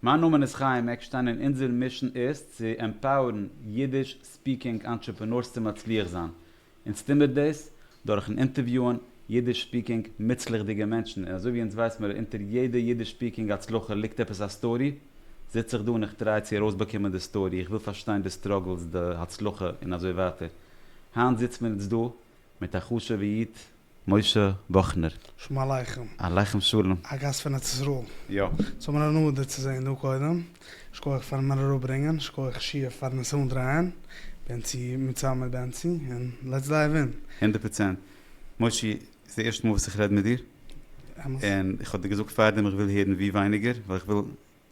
מיין נאמען איז חיים עקשטיין און אונזער מישן איז צו עמפאוערן אידיש ספיקינג אנטרעפענארס צו מצליח זיין. אונז טוהן מיר דאס דורכן אינטערוויוען אידיש ספיקינג מוצלח'דיגע מענטשן און אזויווי אונז ווייס מיר אונטער יעדע אידיש ספיקינג הצלחה ליגט עפעס א סטארי, זיץ איך דא און איך טריי צו ארויסבאקומען די סטארי, איך וויל פארשטיין די סטראגלס, די הצלחה און אזוי ווייטער. היינט זיצן מיר אונז דא מיט א חשוב'ע איד משה וואכנער. שלום עליכם. עליכם שלום. א גאסט פון ארץ ישראל. יא. ס'האט מיר אן הנאה דיר צו זעהן דא קודם. שקויעך פארן מיר אראפברענגען. שקויעך שיעף פארן עס אנדרייען. בענצי מיט צאם מיט בענצי. און לעטס דייוו אין. הונדערט פראצענט. מושי, ס'איז די ערשטע מאל וואס איך רעד מיט דיר. אמת. און איך האב דיר געזאגט פארדעם איך וויל הערן ווי ווייניגער, ווייל איך וויל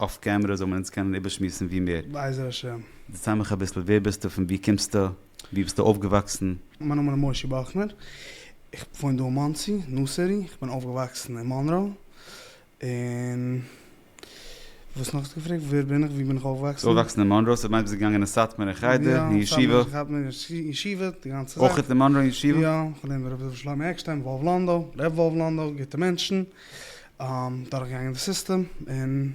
אף קעמרע זאל מען אונז קענען איבערשמועסן ווי מער. בעזר השם. דערצייל מיך אביסל ווער ביסטו פון ווי קומסטו ווי ביסטו אויפגעוואקסן? מיין נאמען איז משה באכנער, איך וואוין דא אין מאנסי, נורסערי, איך בין אויפגעוואקסן אין מאנרא, און וואס נאך האסטו געפרעגט? ווער בין איך? ווי בין איך אויפגעוואקסן? אויפגעוואקסן אין מאנרא, ס'מיינט ביסט געגאנגען אין סאטמאר אין חדר, אין ישיבה? יא, סאטמאר אין חדר, אין ישיבה, די גאנצע זאך. אויך אין מאנרא אין ישיבה? יא, איך האב געלערנט ביי רבי דוד שלמה עקשטיין, וואלוו לאנדא, ר' וואלוו לאנדא, גוטע מענטשן. דורכגעגאנגען די סיסטעם און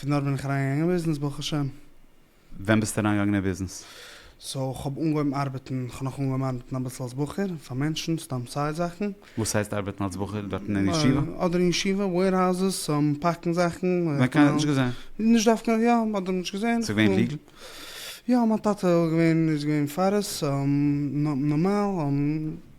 פון דארט בין איך אריינגעגאנגען אין ביזנעס ברוך השם. ווען ביסטו אריינגעגאנגען אין ביזנעס? סאו כ'האב אנגעהויבן ארבעטן, כ'האב נאך אנגעהויבן ארבעטן אביסל אלס בחור פאר מענטשן, סתם סיי זאכן. וואס הייסט ארבעטן אלס בחור? דארטן אין ישיבה? אדער אין ישיבה, וועירהאוזעס, פאקן זאכן. ווען קיינער האט נישט געזען? נישט דווקא, יא, מען האט נישט געזען. ס'איז געווען ליגעל? יא, מיין טאטע איז געווען פאר עס, נארמאל.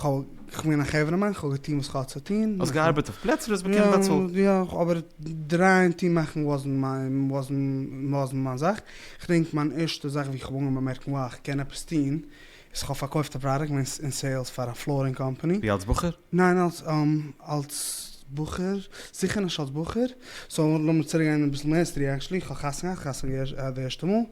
כ'האב געווען א חברה מאן, כ'האב געטון וואס כ'האט צו טון. האסט געארבעט אויף פלעצער, האסט באקומען באצאלט. יא, יא, אבער דרייען טון מאכן וואזנט וואזנט מיין זאך. כ'דענק מיין ערשטע זאך ווי כ'האב אנגעהויבן באמערקן וואו כ'קען עפעס טון, איז כ'האב פארקויפט א פראדוקט, כ'בין אין סעילס פאר א פלארינג קאמפאני. ווי אלס בחור? ניין, אלס אלס בחור, זיכער נישט אלס בחור. סאו לאמיר צוריקגיין אביסל מער היסטארי. עקשעלי כ'האב חתונה געהאט, חתונה געהאט די ערשטע מאל.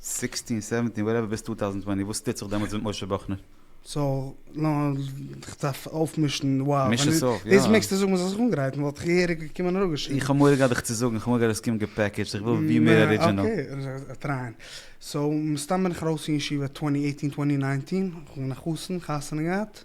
סיקסטין סעווענטין וואטעווער ביז טו טאוזענד טווענטי וואס טוט זיך דעמאלטס מיט משה באכנער? סאו כ'דארף אויפמישן וואו מיש עס אויף יא. דאס מעגסטו זאגן מ'זאל זיך אנגרייטן וואלט איך געהעריג געקומען און אפגעשריבן. איך האב מורא געהאט דיך צו זאגן, איך האב מורא געהאט אז עס קומט געפעקעדזשט, איך וויל ווי מער ארידזשענעל. אקעי, טרייען. סאו מסתם בין איך ארויס פון ישיבה טווענטי עיטין טווענטי ניינטין, כ'בין א חתן, חתונה געהאט.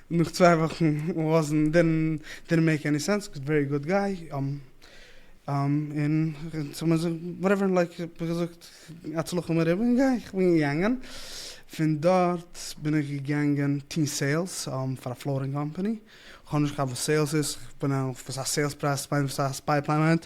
נאך צוויי וואכן לאזן דען דידנט מעיק עני סענס קאוז ווערי גוד גיי און וואטעווער לייק ווי געזאגט הצלחה מרובה און גיי איך בין געגאנגען פון דארט בין איך געגאנגען טוהן סעילס פאר א פלארינג קאמפעני כ'האב נישט געכאפט וואס סעילס איז כ'בין אויף וואס א סעילס פרייז מיינט וואס א ספיי פליי מיינט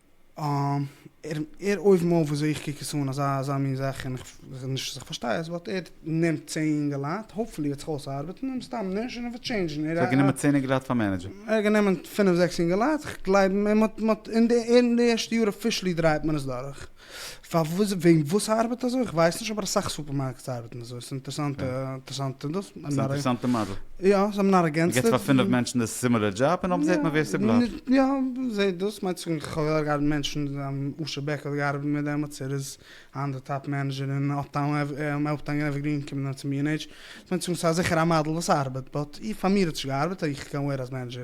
ער ער אויבן אויף וויאזוי איך קוק עס אן אזא אזא מין זאך און איך נישט אז איך פארשטיי עס באט ער נעמט צען אינגעלייט האופפולי וועט זיך אויסארבעטן און סתם נישט און ער וועט טשעינדזשן ער האט גענומען צען אינגעלייט פאר מענעדזשער? ער האט גענומען פינף זעקס אינגעלייט איך גלייב אים און מען האט מען האט אין די ערשטע יאר אפישעלי דרייט מען עס דורך. פארוואס וועגן וואס ארבעט אזוי איך ווייס נישט אבער אסאך סופערמארקעטס ארבעטן אזוי ס'איז אינטערסאנט יא. אינטערסאנט דאס האבן ס'איז א נאר אינטערסאנטע מאדעל. יא זיי האבן נאר ערגענצט מ'געט עס. פאר פינף מענטשן די סימילער דזשאב און אויב זעהט מען ווער ס'בלייבט. יא זעה דאס מיינט צו איך האב געארבעט מיט מענטשן אשר בעקל האט געארבעט מיט מיר דעמאלטס ער איז היינט די טאפ מענעדזשער אין אפטאון עווערגרין קומט נאר צו מיר אין עידזש. ס'מיינט צו זאגן ס'איז זיכער א מאדעל וואס ארבעט באט פאר מיר האט נישט געארבעט איך קען ווערן אז מענעדזשער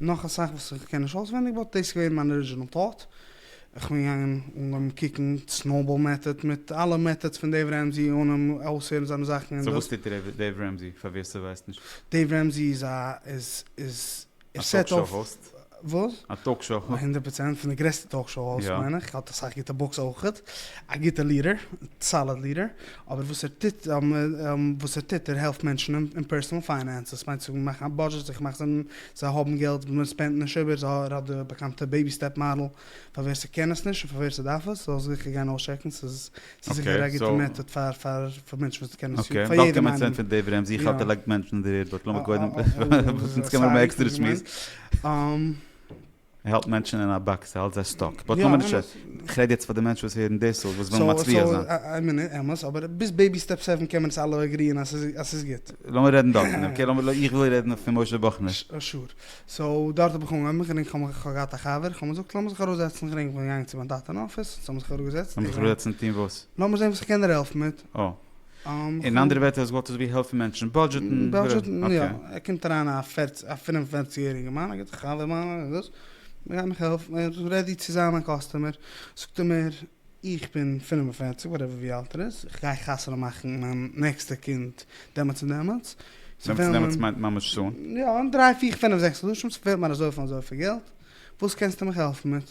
נאך אסאך וואס איך קען נישט אויסווענדיג באט דאס איז געווען מיין ארידזשינעל טאט. איך בין געגאנגען אנגעהויבן קוקן סנאובאל מעטאד מיט אלע מעטאדס פון דעיוו רעמזי און אים אויסהערן זיינע זאכן און סאו וואס טוט דעיוו רעמזי פאר ווער ס'ווייסט נישט? דעיוו רעמזי איז א איז איז ער סעט אויף. א טאלק שאו האוסט? וואס? א טאלק שאו האוסט. הונדערט פראצענט, פון די גרעסטע טאלק שאו האוסט מיין איך, האט אסאך גוטע בוקס אויכעט, א גוטע ליעדער, סאליד ליעדער, אבער וואס ער טוט, וואס ער טוט, ער העלפט מענטשן אין פערסאנעל פיינענסעס, מיינט זיך מאכן א בודזשעט, זיך מאכן זיי, זיי האבן געלט וואס מען ספענדט נישט איבער, ער האט די באקאנטע בעיבי סטעפ מאדעל, פאר ווער ס'קען עס נישט און פאר ווער ס'דארף עס, זאל זיכער גיין אויסטשעקן, ס'איז זיכער א גוטע מעטאד פאר פאר מענטשן וואס קענען עס, פאר יעדעם איינעם. ער האלט מענטשן אין א באקס, ער האלט זיי סטאק. באט נאמען נישט, איך רעד יעצט פאר די מענטשן וואס הערן דאס אויס, וואס ווילן מצליח זיין. סאו סאו, אמת איז אמת, אבער ביז בעיבי סטעפ סעווען קען מען עס אלע עגריען אז ס'איז גוט. לאמיר רעדן דארטן, אקעי? לאמיר, איך וויל רעדן פון משה באכנער. שור. סאו דארט האב איך אנגעהויבן מיך רינגען, כ'האב כ'האב געהאט א חבר, כ'האב מיר זאגט לאמיר זיך אראפזעצן, איך רינג, כ'בין געגאנגען צו מיין טאטע אין אפיס, זיי האבן זיך אראפגעזעצט, איך זאג. לאמיר זיך אראפזעצן טון וואס? לאמיר זען וואס איך קען דיר העלפן מיט. אה. אין אנדערע ווערטער אז גאט איז ווי העלפן מענטשן בודזשעטן. בודזשעטן יא, ער קומט אריין א פֿיר א פֿינף און פֿערציג יעריגע מאן א גוטע חבר מיינער און דאס, ער גייט מיך העלפן, ער איז רעדי צו זיין מיין קאסטומער, זאגט ער מיר איך בין פֿינף און פֿערציג וואטעווער ווי אלט ער איז, איך גיי חתונה מאכן מיין נעקסטע קינד דעמאלטס און דעמאלטס, דעמאלטס און דעמאלטס מיינט ממש שוין? יא, אין דריי פיר פינף זעקס חדשים, ס'פעלט מיר אזויפיל און אזויפיל געלט, וואס קענסטו מיך העלפן מיט?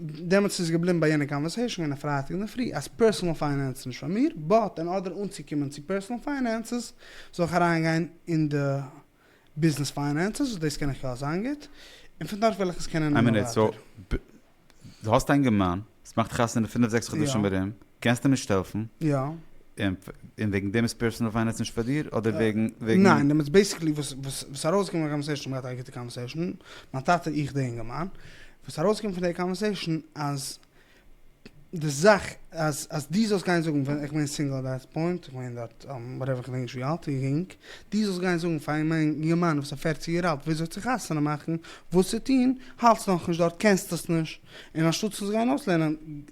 דעמאלטס איז געבליבן ביי יענע קאנווערסעישן יענע פרייטאג אינדערפרי אז פערסאנעל פיינענס איז נישט פאר מיר, באט אין ארדער אנצוקומען צו פערסאנעל פיינענסעס זאל איך אריינגיין אין די ביזנעס פיינענסעס וואס דאס קען איך יא זיין גוט און פון דארט וועל איך עס קענען נעמען ווייטער. דו האסט א אינגערמאן וואס מאכט חתונה אין פינף זעקס חדשים ארום, קענסט אים נישט העלפן? יא. און וועגן דעם איז פערסאנעל פיינענס נישט פאר דיר? אדער וועגן וועגן. ניין, דעמאלטס בעיסיקלי וואס איז ארויסגעקומען אין די קאנווערסעישן, מיר האבן געהאט א גוטע קאנווערסעישן, מיין טאטע, איך, די אינגערמאן, וואס ארויסקומט פון די קאנווערסעישן אז די זאך אז אז דו זאלסט גיין זאגן ווען איך בין סינגל אט דעט פוינט איך בין דארט וואטעווער איך דענק נישט ווי אלט איך גענג דו זאלסט גיין זאגן פאר א יונגערמאן וואס איז פערציג יאר אלט וויאזוי צו חתונה מאכן וואס צו טון האלטסט נאכנישט דארט קענסט עס נישט און אנשטאט צו עס גיין אויסלערנען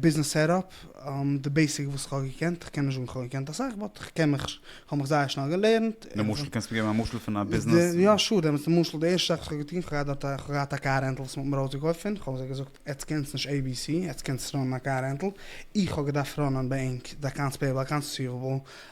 ביזנעס סעטאפ, די בעיסיק וואס איך האב געקענט, איך קען נישט זאגן איך האב געקענט אסאך, באט איך קען מיך, איך האב מיך זייער שנעל געלערנט. למשל, קענסט מיר געבן א משל פון א ביזנעס? יא שור, דעמאלטס למשל די ערשטע זאך וואס איך האב געטון, איך האב געהאט דארט, איך האב געהאט א קאר רענטל וואס מ'האט מיר אויסגעקויפט פון, איך האב זיי געזאגט, עטץ קענטס נישט עי בי סי, עטץ קענטס נישט ראנען א קאר רענטל, איך האב געדארפט ראנען בענק, די אקאונטס פעיעבל, אקאונטס ריסיוועבל,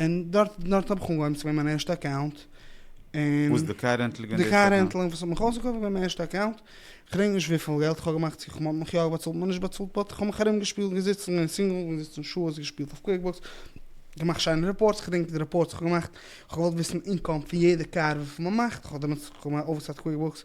און דארט דארט האב איך אנגעהויבן צו געבן מיין ערשטע אקאונט, און וואס די קאר רענטל געווען די קאר רענטל און וואס האט מיך אויסגעקויפט געווען מיין ערשטע אקאונט, כ'דענק נישט וויפיל געלט כ'האב געמאכט צו כ'מאן מיך יא באצאלט מ'האט נישט באצאלט באט כ'האב מיך ארום געשפילט געזיצן אין סינגל געזיצן שעות געשפילט אויף קוויק בוקס געמאכט שיינע רעפארטס כ'דענק די רעפארטס כ'האב געמאכט כ'האב געוואלט וויסן אינקאם פון יעדע קאר וויפיל מ'מאכט כ'האב דעמאלטס כ'האב געמאכט אווערסייט קוויק בוקס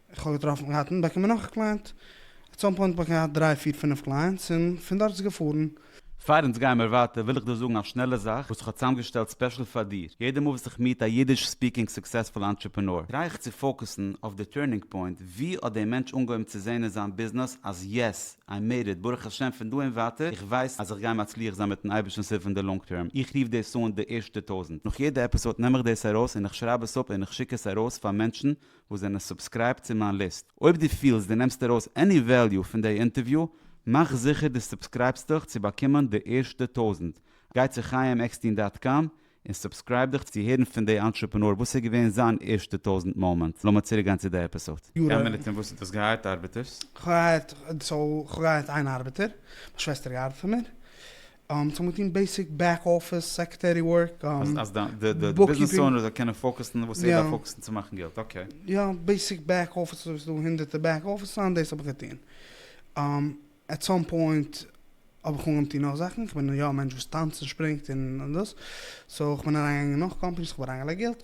איך האב געטראפן געהאט און באקומען נאך א קלייענט, עט סאם פוינט האב איך געהאט דריי פיר פינף קלייענטס און פון דארט איז געפארן. פאר אונז גיימער ווייטער וויל איך דא זאגן א שנעלע זאך וואס איך האב צאמגעשטעלט ספעשל פאר דיר, יעדע מאל וואס איך מיעט א אידיש ספיקינג סוקסעספול אנטרעפענאר טריי איך צו פאוקעסן אויף די טורנינג פוינט, ווי האט דער מענטש אנגעהויבן צו זעהן אין זיין ביזנעס אז יעס, איי מעיד איט, ברוך השם פון דא און ווייטער איך ווייס אז איך גיי מצליח זיין מיטן אייבערשטנ'ס הילף אין די לאנג טערם, איך רוף דאס אן די ערשטע טויזענט, נאך יעדע עפיסאד נעם איך דאס ארויס און איך שרייב עס אפ און איך שיק עס ארויס פאר מענטשן וואס זענען סובסקרייבט צו מיין ליסט. אויב דו פילסט דו נעמסט ארויס עני וועליו פון דעי אינטערוויו, מאך זיכער דו סובסקרייבסט דיך צו באקומען די ערשטע טויזנט. גיי צו חיים עקסטין דאט קאם און סובסקרייב דיך צו הערן פון דעי אנטרעפענאר וואס איז געווען זיין ערשטע טויזנט מאמענט. לאמיר צוריק גיין צו די עפיסאד. כמה מינוט און וואס האט דאס געהייערט ארבעטערס? כ'האב געהייערט, סאו כ'האב געהייערט איין ארבעטער, מיין שוועסטער גייט ארבעטן פאר מיר, ס'האט מיט טוהן בעיסיק בעק אפיס סעקרעטערי ווארק, בוקקיפינג. אז די ביזנעס אונער זאל קענען פאוקעסן וואס ער דארף פאוקעסן צו מאכן געלט, אקעי. יא, בעיסיק בעק אפיס, ס'איז דא הונדערטער בעק אפיס זאכן, דאס האב איך געטוהן. עט סאם פוינט האב איך אנגעהויבן טוהן נאך זאכן, כ'בין יא א מענטש וואס טאנצט און שפרינגט און דאס, סאו כ'בין אריינגעגאנגען אין נאך קאמפעניס, כ'האב אריינגעלייגט געלט,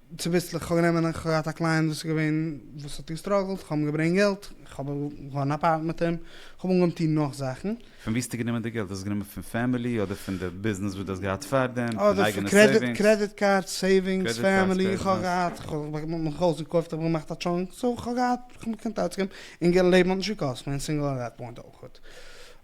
צוביסלעך, כ'האב גענומען, איך האב געהאט א קלייענט וואס איז געווען, וואס האט געסטראגלט, כ'האב אים געברענגט געלט, כ'האב געהאן א פארט מיט אים, כ'האב אנגעהויבן טון נאך זאכן. פון וואו האסטו גענומען די געלט? האסט עס גענומען פון פעמילי אדער פון די ביזנעס וואס דו האסט געהאט פארדעם? פון אייגענע סעיווינגס? אדער פון קרעדיט קארדס, סעיווינגס, פעמילי, איך האב געהאט, כ'האב מיך אויסגעקויפט, כ'האב געמאכט א טשאנק, סאו כ'האב געהאט, כ'האב מיך געקענט אויסגעבן, און לעבן האט נישט געקאסט מיר א סינגל עט דעט פוינט אויכעט.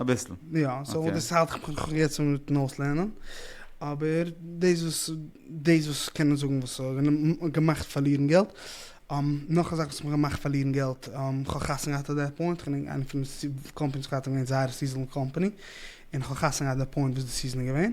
אביסל. יא, סאו אוקיי. דאס האלט איך מיך נאך יעצט מיטן אויסלערנען. אבער דאס וואס דאס וואס קענען זאגן וואס האט געמאכט פארלירן געלט. נאך א זאך וואס האט מיך געמאכט פארלירן געלט, כ'האב חתונה געהאט אט דעט פוינט, כ'בין איינע פון די קאמפעניס וואס כ'האב געהאט איז געווען זייער סיזענעל קאמפעני, און כ'האב חתונה געהאט אט די פוינט וואס די סיזען איז געווען,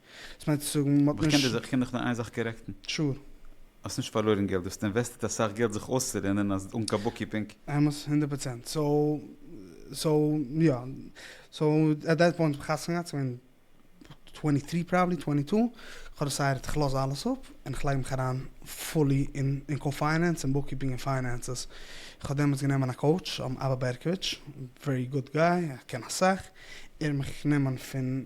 דאס מיינט צו זאגן מ'האט נישט. איך קען דיך נאר איין זאך קארעקטן. שור. האסט נישט פארלוירן געלט, דו האסט אינוועסטעט אסאך געלט זיך אויסצולערנען אז אן קיין בוקקיפינג. אמת, הונדערט פראצענט. סאו, סאו, יא. סאו, עט דעט פוינט האב איך חתונה געהאט, כ'בין טווענטי טרי פראבעלי, טווענטי טו, כ'האב דעסיידעט איך לאז אלעס אפ, און איך לייג מיך אריין פולי אין אין קאר פיינענס און בוקקיפינג און פיינענסעס. איך האב דעמאלטס גענומען א קאוטש, אבא בערקאוויטש, ווערי גוד גיי, ער קען אסאך, ער האט מיך גענומען פון.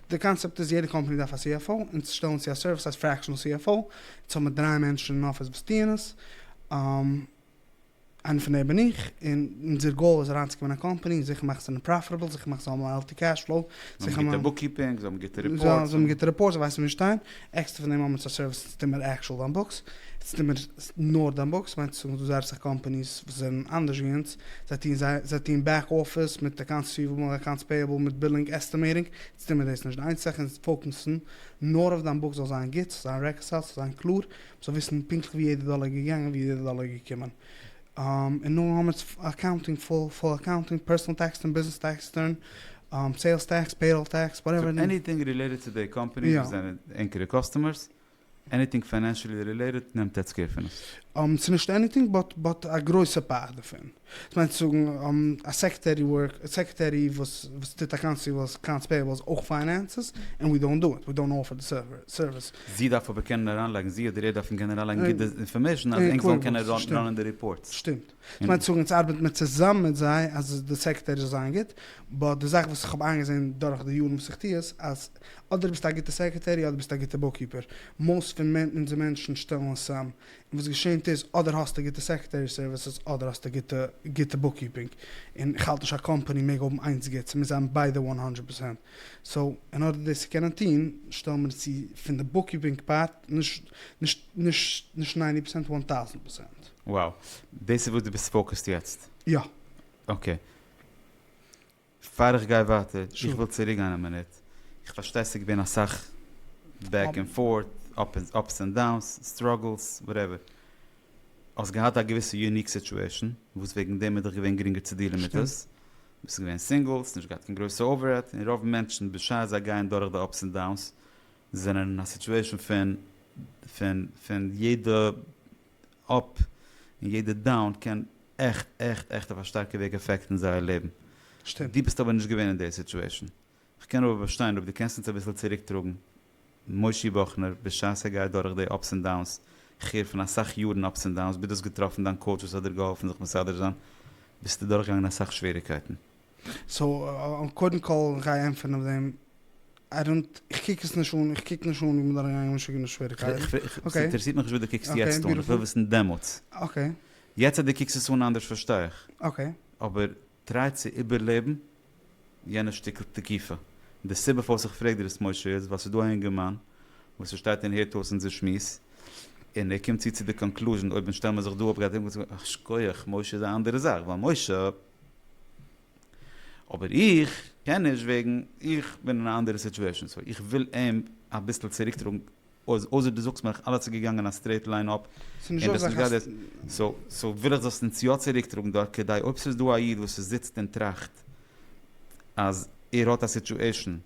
די קאנצעפט איז יעדע קאמפאני דארף א CFO און צו שטעלן צו א סערוויס הייסט פרעקשענעל CFO, יעצט האבן מיר דריי מענטשן אין אפיס וואס טוען עס, איינער פון די בין איך, און אונזער גאול איז אריינצוקומען אין א קאמפאני און זיכער מאכן זיי זענען פראפיטעבל, זיכער מאכן זיי זיי האבן א העלטי קעש פלאו, זיכער מאכן. זיי האבן גוטע בוקקיפינג, זיי האבן גוטע ריפארטס. זיי האבן גוטע ריפארטס, זיי ווייסן ווי מיר שטייען, עקסטער פון דעם האבן זיי סערוויסן צו טון מיט עקשועל דאן בוקס, צו טון מיט נאר דאן בוקס, מיינט צו זאגן ס'דא זייער אסאך קאמפאניס וואס זענען אנדערש ווי אונז, זיי טון זיי זיי טון בעק אפיס מיט אקאונטס ריסיוועבל, אקאונטס פעיעבל, מיט בילינג, עסטימעיטינג, אונז טון מיר דאס נישט, די איינציגע זאך אונז פאוקעסן נאר אויף דאן בוקס זאל זיין גוט, ס'זאל זיין רעקאסייל, ס'זאל זיין קלאר, מ'זאל וויסן פונקטליך ווי יעדע דאלער איז געגאנגען, ווי יעדע דאלער איז געקומען. און נאר האמער'ס אקאונטינג פול פאר אקאונטינג, פערסאנעל טעקס רעטורן, ביזנעס טעקס רעטורן, סעילס טעקס, פעיראל טעקס, וואטעווער. סאו עניטינג רילעיטעד צו די קאמפאניס וואס זענען ענקערע קאסטומערס, עניטינג פיינענשעלי רילעיטעד נעמט עטץ קעיר פון עס. ס'איז נישט עניטינג באט באט א גרויסע פארט דערפון. דאס מיינט צו זאגן א סעקרעטערי ווארק סעקרעטערי וואס וואס טוט אקאונטס ריסיוועבלס אקאונטס פעיעבלס אויך פיינענסעס און ווי דאונט דו איט, ווי דאונט אפער די סערוויס. זי דארף אבער קענען אריינלייגן, זי אדער ער דארפן קענען אריינלייגן גוט די אינפארמעישן אז ענק זאלן קענען ראנען די ריפארטס. שטימט. איך מיין צו זאגן אונז ארבעט מיר צוזאם מיט זיי אז די סעקרעטערי זאל זיין גוט, באט די זאך וואס איך האב איינגעזען דורך די יארן וואס איך טו עס, אז אדער ביסטו א גוטע סעקרעטערי אדער ביסטו א גוטע בוקקיפער. מאוסט פון אונזער מענטשן שטעלן עס צוזאם. און וואס געשענט איז, אדער האסטו גוטע סעקרעטערי סערוויסעס אדער האסטו גוטע גוטע בוקקיפינג. און איך האלט נישט א קאמפאני מעג האבן איינס גוט, ס'מוז זיין ביידע וואן האנדרעט פערסענט. סאו אין ארדער דאס צו קענען טון שטעל מיר צו פון די בוקקיפינג פארט נישט ניינטי פערסענט וואן טאוזענט פערסענט. וואו, דאס איז וואס דו ביסט פאוקעסט יעצט? יא. אקעי. פאר איך גיי ווייטער, איך וויל צוריק גיין א מינוט, איך פארשטיי ס'איז געווען אסאך בעק ענד פארט, אפס ענד דאונס, סטראגלס, וואטעווער. האסט געהאט א געוויסע יוניק סיטועשאן וואס וועגן דעם איז דיך געווען גרינגער צו דיעלן מיט עס. ביסט געווען סינגל, האסט נישט געהאט קיין גרויסע אויבערהעט, און רוב מענטשן בשעת זיי גייען דורך די אפס און דאונס זענען אין א סיטועשאן פון פון פון יעדע אפ און יעדע דאון קען עכט עכט עכט אויף א שטארקע וועג עפעקטן זייער לעבן. שטימט. דו ביסט אבער נישט געווען אין די סיטועשאן. כ'קען אבער באשטיין אויב דו קענסט אונז אביסל צוריקטראגן מושי וואכנער בשעת ער גייט דורך די אפס ענד דאונס, כ'הער פון אסאך יארן אפס ענד דאונס, ביז דו האסט געטראפן דיין קאוטש וואס האט דיר געהאלפן זיך מסדר זיין, ביסטו דורכגעגאנגען אסאך שוועריקייטן. סאו קודם כל גיי ענטפערן אויף דעם, איי דאנט, איך קוק עס נישט אן, איך קוק נישט אן ווי מ'איז דורכגעגאנגען משוגענע שוועריקייטן, אקעי? ס'אינטערעסירט מיך נישט וואס דו קוקסט יעצט אן, איך וויל וויסן דעמאלטס. אקעי. יעצט אז דו קוקסט עס אן אנדערש פארשטיי איך. אקעי. אבער טריי צו איבערלעבן. יענע שטיקל תקיפה. די סיבה פארוואס איך פרעג דיר דאס משה איז ווייל ס'איז דא א אינגערמאן וואס ער שטייט און הערט אויס אונזער שמועס און ער קומט צו צו די קאנקלוזשען אויב שטעל מיר זיך דא אפ גייט ער זאגן א שכוח משה איז א אנדערע זאך ווייל משה אבער איך קען נישט וועגן איך בין אין א אנדערע סיטועשען סאו איך וויל אים אביסל צוריקטראגן אויסער דו זאגסט מיר איך אלעס איז געגאנגען א סטרעיט ליין אפ און דו האסט נישט געהאט דעס סאו וויל איך זאלסט אונז יא צוריק טראגן דארט כדי אויב ס'איז דא א איד וואס ס'זיצט און טראכט אז ער האט א סיטועשן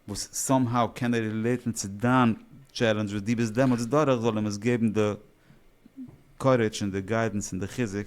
וואס סאם האו קען ער רילעיטן צו דיין טשעלענדזש וואס דו ביסט דעמאלטס דורך זאל אים עס געבן די קארעדזש און די גיידענס און די חיזוק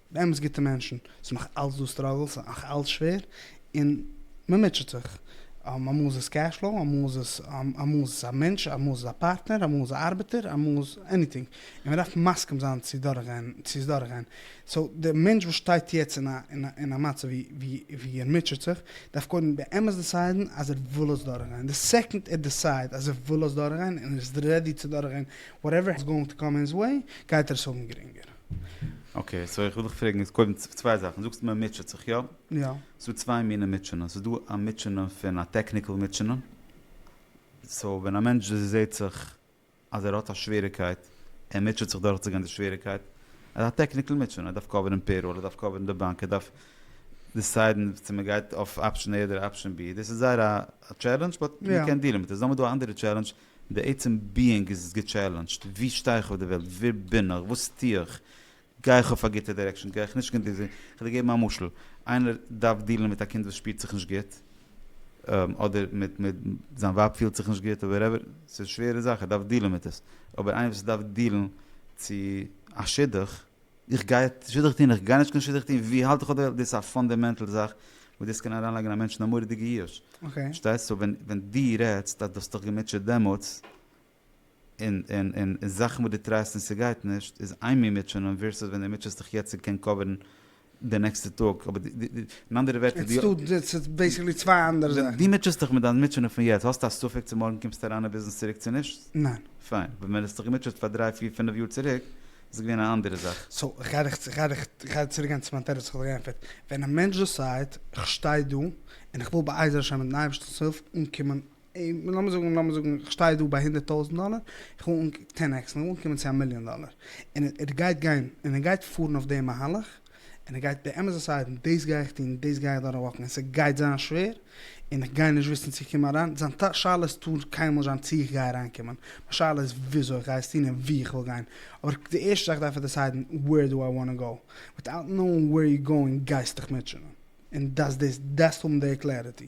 באמת גוטע מענטשן, ס'איז נאך אלץ דא סטראגלס, ס'איז נאך אלץ שווער, און מ'מוטשעט זיך, אמאל איז עס קעש פלאו, אמאל איז עס, אמאל איז עס א מענטש, אמאל איז עס א פארטנער, אמאל איז עס א ארבעטער, אמאל איז עניטינג, און מ'דארף מסכים זיין צו דורכגיין, צו עס דורכגיין, סאו דער מענטש וואס שטייט יעצט אין א אין א מצב ווי ווי ער מוטשעט זיך, דארף קודם באמת דעסיידן אז ער וויל עס דורכגיין, די סעקאנד ער דעסייד אז ער וויל עס דורכגיין און ער איז רעדי צו דורכגיין וואטעווער איז גאוינג טו קאם אין היז וועי, גייט ער עס האבן גרינגער. אקעי סאו איך וויל דיך פרעגן איז קודם צוויי זאכן דו זאגסט מען מוטשעט זיך יא? יא. ס'דא צוויי מיני מוטשענען ס'איז דא א מוטשענע פון א טעקניקעל מוטשענע סאו ווען א מענטש זעהט זיך אז ער האט א שוועריקייט ער מוטשעט זיך דורכצוגיין די שוועריקייט איז א טעקניקעל מוטשענע ער דארף קאווערן פעיראל ער דארף קאווערן די באנק ער דארף דיסיידן צו מען גייט אויף אפשען עי אדער אפשען בי דאס איז זייער א טשעלענדזש באט מען קען דיעלן מיט עס איז נאכדעם דא א אנדערע טשעלענדזש די עצם ביאינג איז געטשעלענדזשט, ווי שטיי איך אויף די וועלט? ווער בין איך? וואס טו איך? גיי איך אויף א גוטע דירעקשאן? גיי איך נישט גענוג זיך? כ'וועל דיר געבן א משל, איינער דארף דיעלן מיט א קינד וואס שפירט זיך נישט גוט, אדער מיט זיין ווייב פילט זיך נישט גוט, וואטעווער, ס'איז שווערע זאך, ער דארף דיעלן מיט עס, אבער איינער וואס דארף דיעלן צו א שידוך, איך גיי שידוך טון, איך גיי נישט קיין שידוך טון, ווי האלט איך אדער דאס איז א פאנדעמענטעל זאך וואס דאס קען אריינלייגן א מענטש אין א מורא'דיגע יאוש, פארשטייסט? סאו ווען דו רעדסט אז דו האסט דיך געמוטשעט דעמאלטס, און זאכן וואס דו טרייסט און ס'גייט נישט, איז איין מין מוטשענען ווערסוס ווען דו מוטשעסט דיך יעצט און קען קאווערן די נעקסטע טאג, אבער אין אנדערע ווערטער, דו מוטשעסט דיך מיט דיין מוטשענען פון יעצט, האסטו א ספק צו מארגן קומסטו אריין אין ביזנעס צוריק צו נישט? ניין. פיין, ווען דו האסט דיך געמוטשעט פאר דריי פיר פינף יאר צוריק, איז געווען א אנדערע זאך. סאו כ'גיי דיך כ'גיי דיך כ'גיי צוריק גיין צו מיין תירוץ וואס כ'האב דיך געענטפערט. ווען א מענטש דעסייד כ'שטיי דא און כ'וויל בעזר השם מיטן אייבערשטנ'ס הילף אנקומען, לאמיר זאגן לאמיר זאגן כ'שטיי דא ביי הונדערט טויזנט דאלער, כ'וויל אנקומען טען עקס, כ'וויל אנקומען צו א מיליאן דאלער, און ער גייט גיין און ער גייט פארן אויף די מהלך, און ער גייט באמת דעסיידן, דאס גיי איך טון, דאס גיי איך דורכוואקן, און ס'גייט זיין שווער, און איך גיי נישט וויסן צו קומען אריין, זיין שאלה איז טאר קיינמאל נישט זיין צו איך גיי אריינקומען, מיין שאלה איז וויאזוי איך גיי עס טון און וואו איך וויל גיין, אבער די ערשטע זאך דארף ער דעסיידן ווער דו איי וואנט טו גאו, וויטאוט נאונג ווער יו גאוינג גייסטיך מוטשענען, און דאס דאס דארפסט האבן די קלעריטי.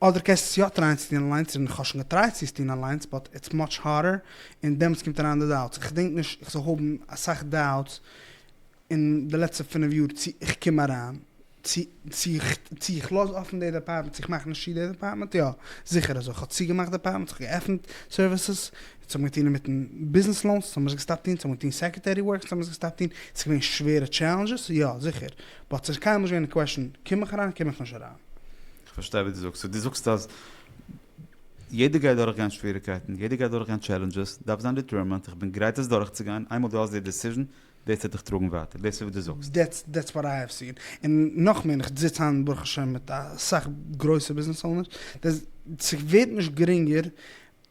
אדער קענסטו עס יא טרייען צו טון אליינס און כ'האב שוין געטרייט צו עס טון אליינס באט איטס מאטש הארדער און דעמאלטס קומט אריין די דאוטס איך געדענק נישט איך זאל האבן אסאך דאוטס אין די לעצטע פֿינף יאר צו איך קום אריין צו צו צו איך לאז אפן די דעפארטמענט צו איך מאך נישט צו די דעפארטמענט יא זיכער אזוי כ'האב צוגעמאכט דעפארטמענטס איך האב געעפנט סערוויסעס עס האבן געטון אינמיטן ביזנעס לאונס עס האבן מיר עס געסטאפט טון עס האבן געטון סעקרעטערי ווארק עס האבן מיר עס געסטאפט טון עס איז געווען שווערע טשעלענדזשעס יא זיכער באט עס איז קיינמאל נישט געווען די קוועשן קום איך אריין קום איך נישט אריין. כ'פארשטיי וואס דו זאגסט. סאו דו זאגסט אז יעדער גייט דורכגיין שוועריגקייטן, יעדער גייט דורכגיין טשעלענדזשעס, דארפסט זיין דיטערמענט, איך בין גרייט עס דורכצוגיין, איינמאל דו האסט די דיסיזשען, דאס וועט דיך טראגן ווייטער, דאס איז וואס דו זאגסט. דעטס דעטס וואט איי האוו סין. און נאך מער, איך זיץ היינט ברוך השם מיט אסאך גרויסע ביזנעס אונערס, ס'ווערט נישט גרינגער,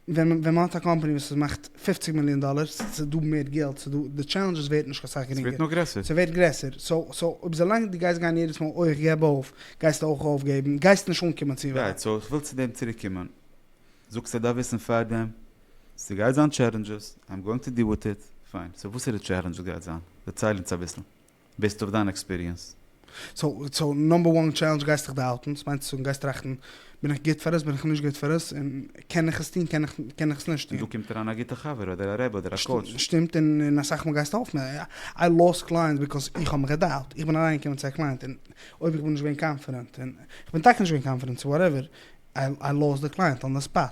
ווען ווען מ'האט א קאמפאני וואס איז מאכט פופציג מיליאן דאלער, ס'איז דא מער געלט, ס'איז דא, די טשעלענדזשעס ווערט נישט קיין סאך גרינגער. ס'ווערט נאר גרעסער. ס'ווערט גרעסער. סאו סאו אויב זא לאנג דו גייסט גיין יעדעס מאל אוי איך געב אויף, גייסטו אויך אויפגעבן, גייסט נישט אנקומען צו ווייט. רייט, סאו איך וויל צו דעם צוריק קומען. זאגסט איך דארף וויסן פארדעם, ס'גייט זיין טשעלענדזשעס, איים גאוינג טו דיעל וויט איט, פיין, סאו וואסערע טשעלענדזשעס גייט זיין? דערצייל אונז אביסל. בעיסד אויף דיין עקספיריענס. סאו סאו נאמבער וואן טשעלענדזש גייסטעך די האלטן, ס'מיינט צו זאגן גייסט טראכטן בין איך גוט פאר עס בין איך נישט גוט פאר עס, און קען איך עס טון קען איך קען איך עס נישט און דא טון. קומט אריין א גוטע חבר אדער א רבי אדער א קאוטש. שטימט און און אסאך מאל גייסטו האלפן, איי לאסט קלייענטס ביזקאוז איך האב מיך געדאובט, איך בין אריין געקומען צו א קלייענט און אויב איך בין נישט געווען קאנפידענט און איך בין טאקע נישט געווען קאנפידענט סאו וואטעווער איי לאסט די קלייענט אן די ספאט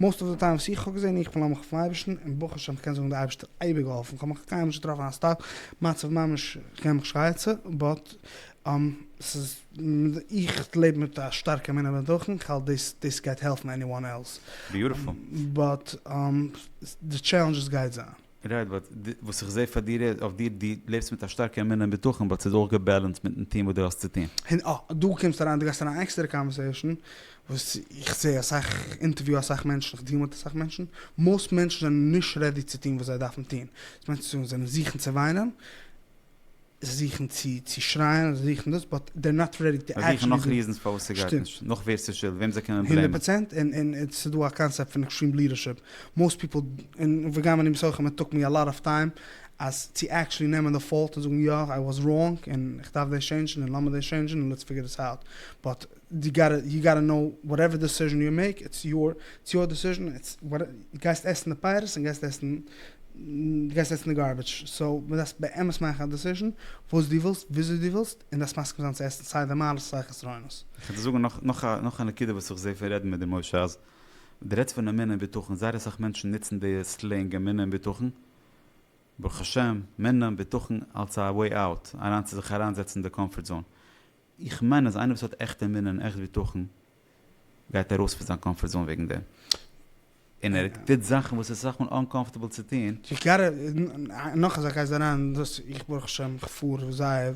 מאסט אוו די טיים וואס איך האב געזען איך פארלאנג מיך אויפן אייבערשטן און ברוך השם כ'קען זאגן די אייבערשטער האט אייביג געהאלפן כ'האב נאך קיינמאל נישט געטראפן א סטאק מצב ממש כ'קען מיך שרייעצע באט ס'איז איך לעב מיט א שטארקע אמונה בדחן כ'האלט דאס דאס גייט העלפן עניוואן עלס ביוטיפול באט די טשעלענדזשעס גייט זיין. רייט, באט וואס איך זעה פאר דיר איז, אויף דיר, דו לעבסט מיט א שטארקע אמונה און בטחון, באט ס'איז אויך געבעלענסט מיטן טון וואס דו האסט צו טון. און אה, דא קומסטו אריין, דו גייסט אריין אין עקסטערע קאנווערסעישאן, וואס איך זעה אסאך, אינטערוויו אסאך מענטשן, איך דיעל מיט אסאך מענטשן, מאוסט מענטשן זענען נישט רעדי צו טון וואס זיי דארפן טון, דאס מיינט צו זאגן זיי זוכן צו וויינען, זיכן צו צו שרייען אדער זיכן דאס באט דער נאט רעדי טו עקטשעלי דא. זיכן נאך ריזענס פארוואס סגייט נישט נאך ווער סשולד וועם זיי קענען בלעימען. הונדערט פראצענט און און סדא א קאנסעפט פון עקסטרים לידערשיפ מאוסט פיפל און וגם אני מסכים איט טאק מי א לאט אף טיים אז צו עקטשעלי נעמען די פאלט און זאגן יא איי וואס ראנג און כ'דארף דאס טשעינדשן און לאמיר דאס טשעינדשן און לעטס פיגער דיס אוט באט די גאטע יו גאטע נאו וואטעווער דעסיזשען יו מעיק איטס יור איטס יור דעסיזשען איטס וואטעווער גייסט עסן די פייערס און גייסט עסן גייסט עסן די גארביטש סאו מען דארף באמת מאכן א דעסיזשען וואס דו ווילסט וויאזוי דו ווילסט און דארפסט מסכים זיין צו עסן סיי די מעלות סיי חסרונות. איך וועל דיר זאגן נאך א נאך א נקודה וואס איך זעה פון רעדן מיט דיר משה אז דו רעדסט פון אמונה און בטחון זייער אסאך מענטשן נוצן די סלענג אמונה און בטחון ברוך השם מנע בטחון אלס א וועי אוט אריין צו זיך אריין זעצן אין די קאמפארט זאון איך מיין אז איינער וואס האט עכט אמונה און עכט בטחון גייט ארויס פון זיין קאמפארט זאון וועגן דעם, און ער טוט זאכן וואס איז אסאך מאל אנקאמפארטעבל צו טון. איך גייט נאך אזא קייס אריין, דאס איך ברוך השם איך פאר זייער,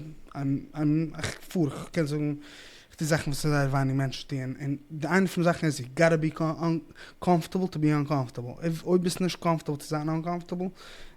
איך פאר איך קען זאגן איך טו זאכן וואס זייער ווייניג מענטשן טוען, און די איינע פון די זאכן איז יו גאטע בי קאמפארטעבל טו בי אנקאמפארטעבל, אויב ביסט נישט קאמפארטעבל צו זיין אנקאמפארטעבל,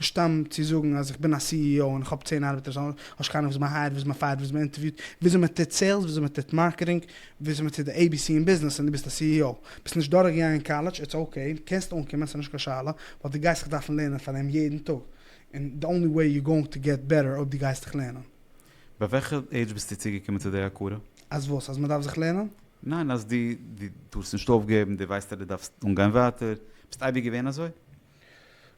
נישט סתם צו זאגן אז איך בין א סי אי או און איך האב צען ארבעטער סאו האסט קיינער וואס מען הייערט וואס מען פייערט וואס מען אינטערוויוט וויאזוי מען טוט סעילס וויאזוי מען טוט מארקעטינג וויאזוי מען טוט די עי בי סי אין ביזנעס און דו ביסט א סי אי או ביסט נישט דורך געגאנגען קאלעדזש איטס אקעי קענסט אנקומען ס'נישט קיין שאלה באט דו גייסט זיך דארפן לערנען פאר דעם יעדן טאג און די אנלי וועי יו גאוינג טו געט בעטער אויב דו גייסט דיך לערנען. ביי וועלכע עידזש ביסטו צוגעקומען צו די הכרה? אז וואס? אז מען דארף זיך לערנען? ניין אז דו דו טארסט נישט אויפגעבן דו ווייסט אז דו דארפסט אנגיין ווייטער ביסט אייביג געווען אזוי?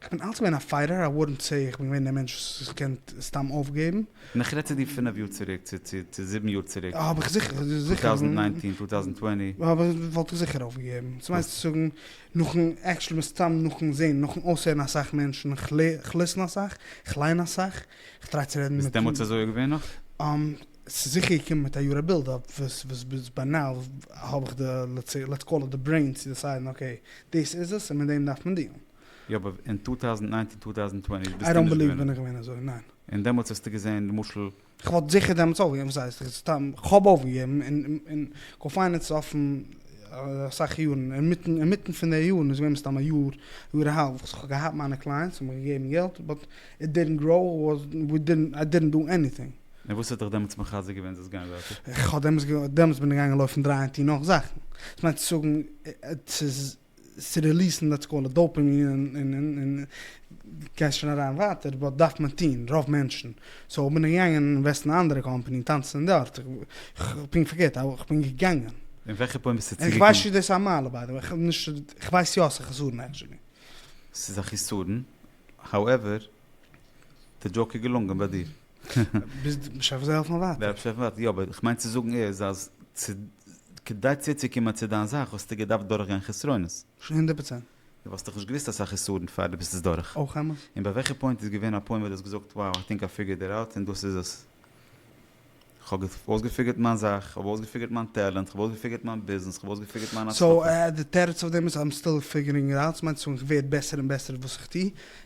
כ'בין אלץ געווען א פייטער, א ווארענט צו איך בין געווען דער מענטש וואס זיך קען סתם אויפגעבן. און איך רעד צו דיר פינף יאר צוריק, צו צו זיבן יאר צוריק. האב איך זיכער, טו זיכער. טאוזענט ניינטין, טו טאוזענט טווענטי. וואלט איך זיכער אויפגעגעבן. צו מיינסט צו זאגן נאכן, עקשעלי מסתם נאכן זען, נאכן אויסהערן אסאך מענטשן, כ'ליסן אסאך, כ'ליין אסאך, כ'טריי צו רעדן מיט. ביסט דעמאלטס אזוי געווען נאך? ס'איז זיכער געקומען מיט א יאר א בילד אפ, וואס ביז ביי נאו האב איך די, לעטס קאל איט די ברעין צו דעסיידן אקעי, דאס איז עס און מיט דעם דארף מען דיעלן. יא אבער אין טו טאוזענד נײַנצן טו טאוזענד טווענטי איי דאנט בעליוו בין איך געווען אזוי, ניין. און דעמאלטס האסטו געזען למשל. כ'וואלט זיכער דעמאלטס אויפגעגעבן, וואס הייסט, סתם כ'האב אויפגעגעבן, און קאפיינעץ אויפן אסאך יארן, אינמיטן אינמיטן פון די יארן איז געווען מסתם א יאר, יאר א האלב וואס כ'האב געהאט מיינע קלייענטס און מיך געגעבן געלט, באט איט דידנט גראו, ווי דידנט, איי דידנט דא עניטינג. און וואס האט דיך דעמאלטס מחזק געווען זאלסט גיין ווייטער? כ'האב דעמאלטס געוואלט, דעמאלטס בין איך געגאנגען לויפן דרייען טון נאך זאכן, דאס מיינט צו זאגן צו צו ריליעסן דעטס קאלד דאופעמין און און גייסט שוין אריין ווייטער, באט דארף מען טון, רוב מענטשן, סאו בין איך געגאנגען אינוועסטן אין א אנדערע קאמפאני און טאנצן דארט, פונקט פארקערט, איך בין געגאנגען. אין וועלכע פוינט ביסטו צוגעקומען? און כ'ווייס נישט צו דאס איז א מעלה ביי די וועי, כ'האב נישט, כ'ווייס יא ס'איז א חסרון עקטשולי. ס'איז א חסרון, האועווער, די דזשאוק איז געלונגען ביי דיר. ביז משיח וועט זיי העלפן ווייטער. ווען משיח וועט, יא, אבער כ'מיין צו זאגן איז אז צו, כדי צוצוקומען צו דיין זאך וואלסטו געדארפט דורכגיין חסרונות. הונדערט פראצענט. דו וואלסט דאך נישט געוואוסט אסאך איסורים פאר דו ביסט עס דורך. אויך אמת. און ביי וועלכע פוינט איז געווען א פוינט וואס דו האסט געזאגט wow i think i figured it out און דאס איז עס? כ'האב אויסגעפיגערט מיין זאך, כ'האב אויסגעפיגערט מיין טעלענט, כ'האב אויסגעפיגערט מיין ביזנעס, כ'האב אויסגעפיגערט מיין הצלחה. סאו די תירוץ אויף דעם איז i'm still figuring it out, ס'מיינט אז איך ווער בעסער און בעסער וואס איך טו,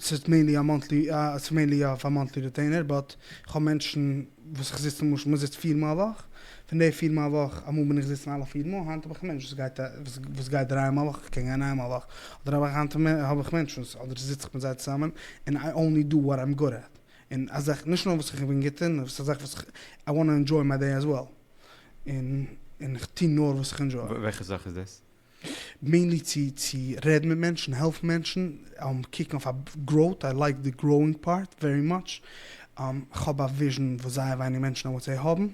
ס'איז מעינלי א מאנטלי ס'איז מעינלי יא פאר מאנטלי ריטעינער באט איך האב מענטשן וואס איך זיץ למשל מען זיצט פיר מאל א וואך פון די פיר מאל א וואך אמאל בין איך זיצן אלע פיר מאל היינט האב איך א מענטש וואס גייט וואס גייט דרײַ מאל א וואך איך קען גיין איין מאל א וואך אדער אויב היינט האב איך מענטשן וואס אדער זיץ איך מיט זיי צוזאמען און איי אנלי דא וואט איים גוד עט און א זאך נישט נאר וואס איך בין גוט אין ס'איז א זאך וואס איך איי וואנט טו ענדזשוי מיי דעי עז וועל און און איך טו נאר וואס איך ענדזשוי. וועלכע זאך איז דאס? מעינלי צו צו רעדן מיט מענטשן, העלפן מענטשן, קוקן אויף א גראוט, איי לייק די גראוינג פארט ווערי מאטש, כ'האב א וויזשן וואס זייער ווייניג מענטשן אויף וואטסעפפ האבן,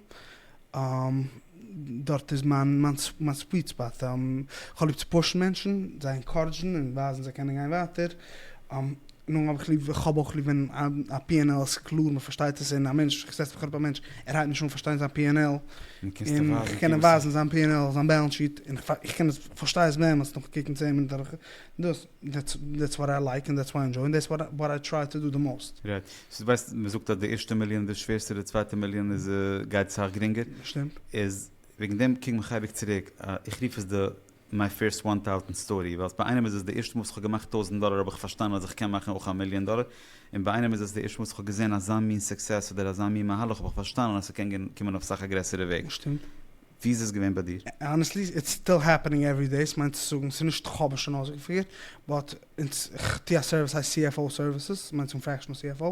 דארט איז מיין מיין סוויט ספאט, כ'האב ליב צו פושן מענטשן, זיי ענקארעדזשן און ווייזן זיי קענען גיין ווייטער, נו, האב איך ליב, כ'האב אויך ליב ווען א פי ענד על איז קלאר, מען פארשטייט עס, און א מענטש, כ'זעץ מיך אראפ א מענטש, ער הייבט נישט אן פארשטיין זיין פי ענד על, און איך קען אים ווייזן זיין פי ענד על, זיין בעלענס שיט, און איך קען עס, כ'פארשטיי עס באמת נאכן קוקן צען מינוט אדורך, דאס, דעטס וואט איי לייק, און דעטס וואט איי ענדזשוי, און דאס איז וואט איי טריי טו דא די מאוסט. רייט. סאו דו ווייסט, מען זאגט אז די ערשטע מיליאן איז די שווערסטע, די צווייטע מיליאן איז, גייט סאך גרינגער. שטימט. איז, וועגן דעם קומט מיך אייביג צוריק, איך רוף עס די. מיי פירסט וואן טאוזענט סטארי, ווייל ביי איינעם איז עס די ערשטע מאל וואס כ'האב געמאכט טויזענט דאלער האב איך פארשטאנען אז איך קען מאכן אויך א מיליאן דאלער, און ביי איינעם איז עס די ערשטע מאל וואס כ'האב געזען אזא מין סוקסעס אדער אזא מין מהלך האב איך פארשטאנען אז ס'קען קומען אויף סאך א גרעסערע וועג. שטימט. ווי איז עס געווען ביי דיר? האנעסטלי, איטס סטיל העפענינג עווערי דעי, ס'מיינט צו זאגן, ס'איז נישט כ'האב עס שוין אויסגעפירט, באט. אונז, איך טו א סערוויס הייסט CFO סערוויסעס, מיינט צום פראפעשענעל CFO,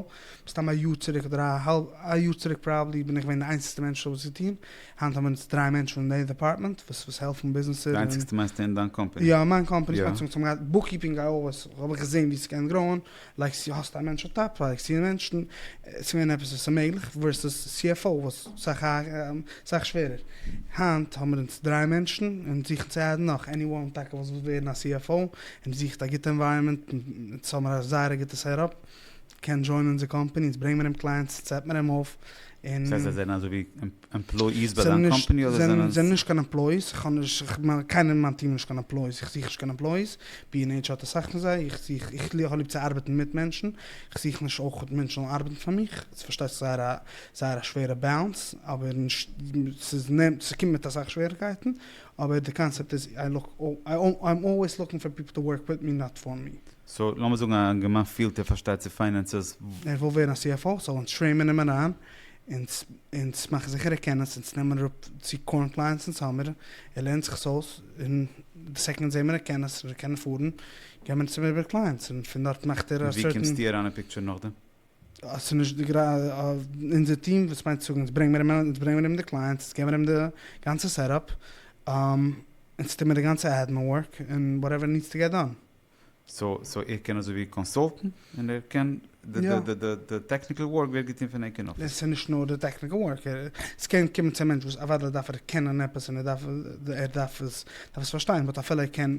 מסתם א יאר צוריק אדער א יאר צוריק פראבעבלי בין איך געווען די איינציגסטע מענטש דא וואס טון, היינט האבן אונז דריי מענטשן אין די דעפארטמענט וואס וואס העלפן ביזנעסער און. די איינציגסטע מיינסטו אין דיין קאמפעני? יא אין מיין קאמפעני, איך מיין צום צום געהאט בוקקיפינג א אויס, האב איך געזען ווי ס'קען גראוען, לייגסט צו האסט א מענטש אויף טאפ, לייגסט צו מענטשן, עס געווען עפעס וואס איז מעגליך, ווערסעס CFO וואס סאך סאך שווערער, היינט האבן אונז דריי מענטשן און זוכן צו אדדן נאך, עניוואן טאקע וואס וויל ווערן א CFO, און זוכט א גוטע ענווייראמענט, אונז האבן א זייער גוטע סעטאפ, קען דזשוינען אונזער קאמפעני, אונז ברענגט מיר אים קלייענטס, אונז סעט מיר אים אויף, און. ס'הייסט זיי זענען אזויווי עמפלאיס ביי דיין קאמפעני אדער זענען זיי. זענען נישט קיין עמפלאיס, איך האב נישט, קיינער אין מיין טיעם איז נישט קיין עמפלאיס, איך זוך נישט קיין עמפלאיס, בי ענד עיטש האט אסאך פון זיי, איך זוך, איך האב ליב צו ארבעטן מיט מענטשן, איך זוך נישט אויך מענטשן זאלן ארבעטן פאר מיך, ס'איז פארשטייט זיך זייער א זייער א שווערע באלאנס, אבער נישט, ס'איז נעמט, ס'קומט מיט אסאך שוועריקייטן, אבער די קאנסעפט איז איי לוק איים אלוועיס לוקינג פאר פיפל טו ווארק וויט מי נאט פאר מי. סאו לאמיר זאגן א יונגערמאן פילט ער פארשטייט צו פיינענסעס. ער וויל ווערן א CFO זאל אונז טרעימען אים אריין אונז מאכן זיכער ער קען עס אונז נעמען אראפ צו קארנט קלייענטס אונז האמיר ער לערנט זיך עס אויס און די סעקאנד זעמער ער קען עס ער קען פארן גיימער אונז אים איבער קלייענטס און פון דארט מאכט ער א סערטען. און ווי קומסטו אריין אין פיקטשער נאכדעם? אז ס'איז נישט די גרייט אונזער טיעם וואס מיינט צו אונז ברענג מיר אים אונז ברענג מיר אים די קלייענטס אונז געבן מיר אים די גאנצע סעטאפ אונז טוהן מיר די גאנצע עדמין ווארק און וואטעווער נידס טו געט דאן. סאו סאו ער קען אזוי ווי קאנסאלטן און ער קען די די די די די טעקניקל ווארק ווערט געטוהן פון ענק אין אפיס. און ס'איז נישט נאר די טעקניקל ווארק ער ס'קען קומען צו א מענטש וואס אוודאי דארף ער קענען עפעס און ער דארף ער דארף עס דארף עס פארשטיין באט אפילו ער קען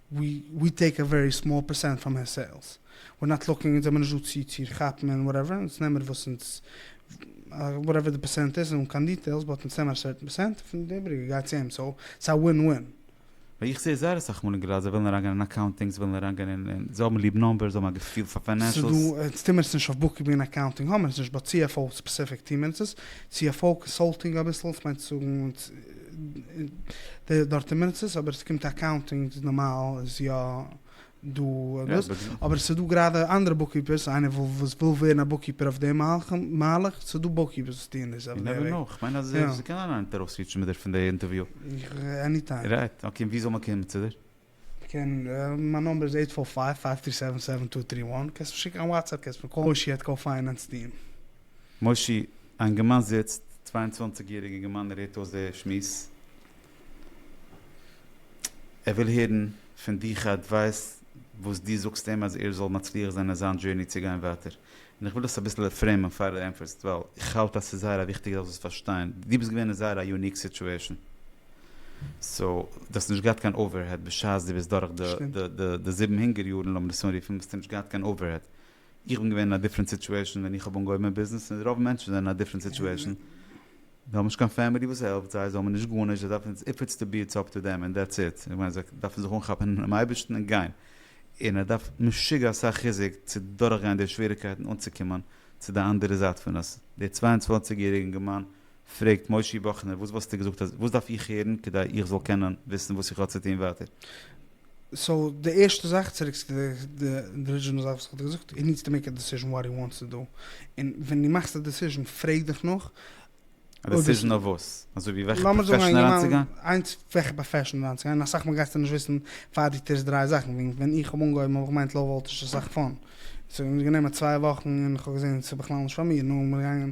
ווי טעיק א ווערי סמאל פערסענט פראם הער סעילס, ווער נאט לוקינג, אונז זעמיר נישט דא צי צי כאפן און וואטעווער, אונז נעמער וואס אונז וואטעווער די פערסענט איז, אן קיין דיטעילס, באט אונז נעמער א סערטען פערסענט, פון די איבריגע גייט צו אים, סאו ס'איז א ווין ווין. ווייל איך זעה זייער אסאך מאל אין געראדזש זיי ווילן אריינגיין אין אקאונטינג, זיי ווילן אריינגיין אין אין, זיי האבן ליב נומבערס, זיי האבן א געפיל פאר פיינענשעלס. ס'איז דא, אונז טועמער עס נישט אויף בוקקיפינג און אקאונטינג האמער עס נישט, באט סי עף או ספעסיפיק טועמער אונז עס, סי עף או, קאנסאלטינג אביסל, ס'מיינט צו זאגן אונז. דארט אין מרצות אבער ס'קומט אקאונטינג איז נארמאל איז יא דא דאס אבער ס'דא גראדע אנדערע בוקקיפערס איינער וואס וויל ווערן א בוקקיפער אויף די מהלך ס'דא בוקקיפערס וואס טוען דאס אויף די וועג. כ'מיין אז ס'קען אריין אינטער אויסריטש מיט דיר פון די אינטערוויו. עניטיים. רייט, אקעי און ווי זאל מען קומען צו דיר? קען מיין נאמבער איז עיט פאר פייוו פייוו טרי סעווען סעווען טו טרי וואן קענסט מיר שיקן א וואטסעפפ קענסט מיר קאלן מושי עט קאו פיינענס דאט קאם. מושי, א אינגערמאן זיצט, צוויי און צוואנציג יעריג אינגערמאן ער הערט אויס די שמועס, ער וויל הערן פון דיך א אדווייס וואס דו זאגסט אים אז ער זאל מצליח זיין אין זיין דזשערני צו גיין ווייטער. און איך וויל דאס אביסל ריפרעימען פאר די ענטפערסט ווייל איך האלט אז ס'איז זייער א וויכטיגע זאך זאלסט פארשטיין דו ביסט געווען אין זייער א יוניק סיטועשן סאו דו האסט נישט געהאט קיין אווערהעד בשעת דו ביסט דורך די זיבן הונגער יארן לאמיר עס אנרופן ביסטו נישט געהאט קיין אווערהעד איך בין געווען אין א דיפרענט סיטועשן ווען איך האב אנגעהויבן מיין ביזנעס און רוב מענטשן זענען אין א דיפרענט סיטועשן זיי האבן נישט קיין פעמילי וואס העלפט זיי, זיי האבן נישט גארנישט, זיי דארפן עטס איף עטס טו בי עטס אפ טו דעם און דעטס איט, איך מיין זיי דארפן זיך אנכאפן אינעם אייבערשטן און גיין, און עס דארף משוגע אסאך חיזוק צו דורכגיין די שוועריקייטן אנצוקומען צו די אנדערע זייט פון עס, דער צוויי און צוואַנציק יעריגע אינגערמאן פרעגט מושי באכנער וואס וואלסטו געזאגט אז וואס דארף איך הערן כדי איך זאל קענען וויסן וואס איך האב צו טון ווייטער? סאו די ערשטע זאך, צוריק צו די ארידזשינעל זאך וואס איך האב דיר געזאגט, הי נידס טו מעיק א דעסיזשן וואט הי וואנטס טו דא, און ווען דו מאכסט א דעסיזשן פרעג דיך נאך א אויב עס דעסיזשן אויף וואס? אזוי ווי וועלכע לאמיר זאגן א פראפעשן אינגערמאן, אריינצוגיין? איינס וועלכע פראפעשן אריינצוגיין, אסאך מאל גייסטו נישט וויסן פאר דו טוסט דרײַ זאכן, ווי ווען איך האב אנגעהויבן האב איך געמיינט לאו וואלטעזש איז אסאך פאן, ס'האט מיר גענומען צוויי וואכן און איך האב געזען ס'איז בכלל נישט פאר מיר, נאר מיר געגאנגען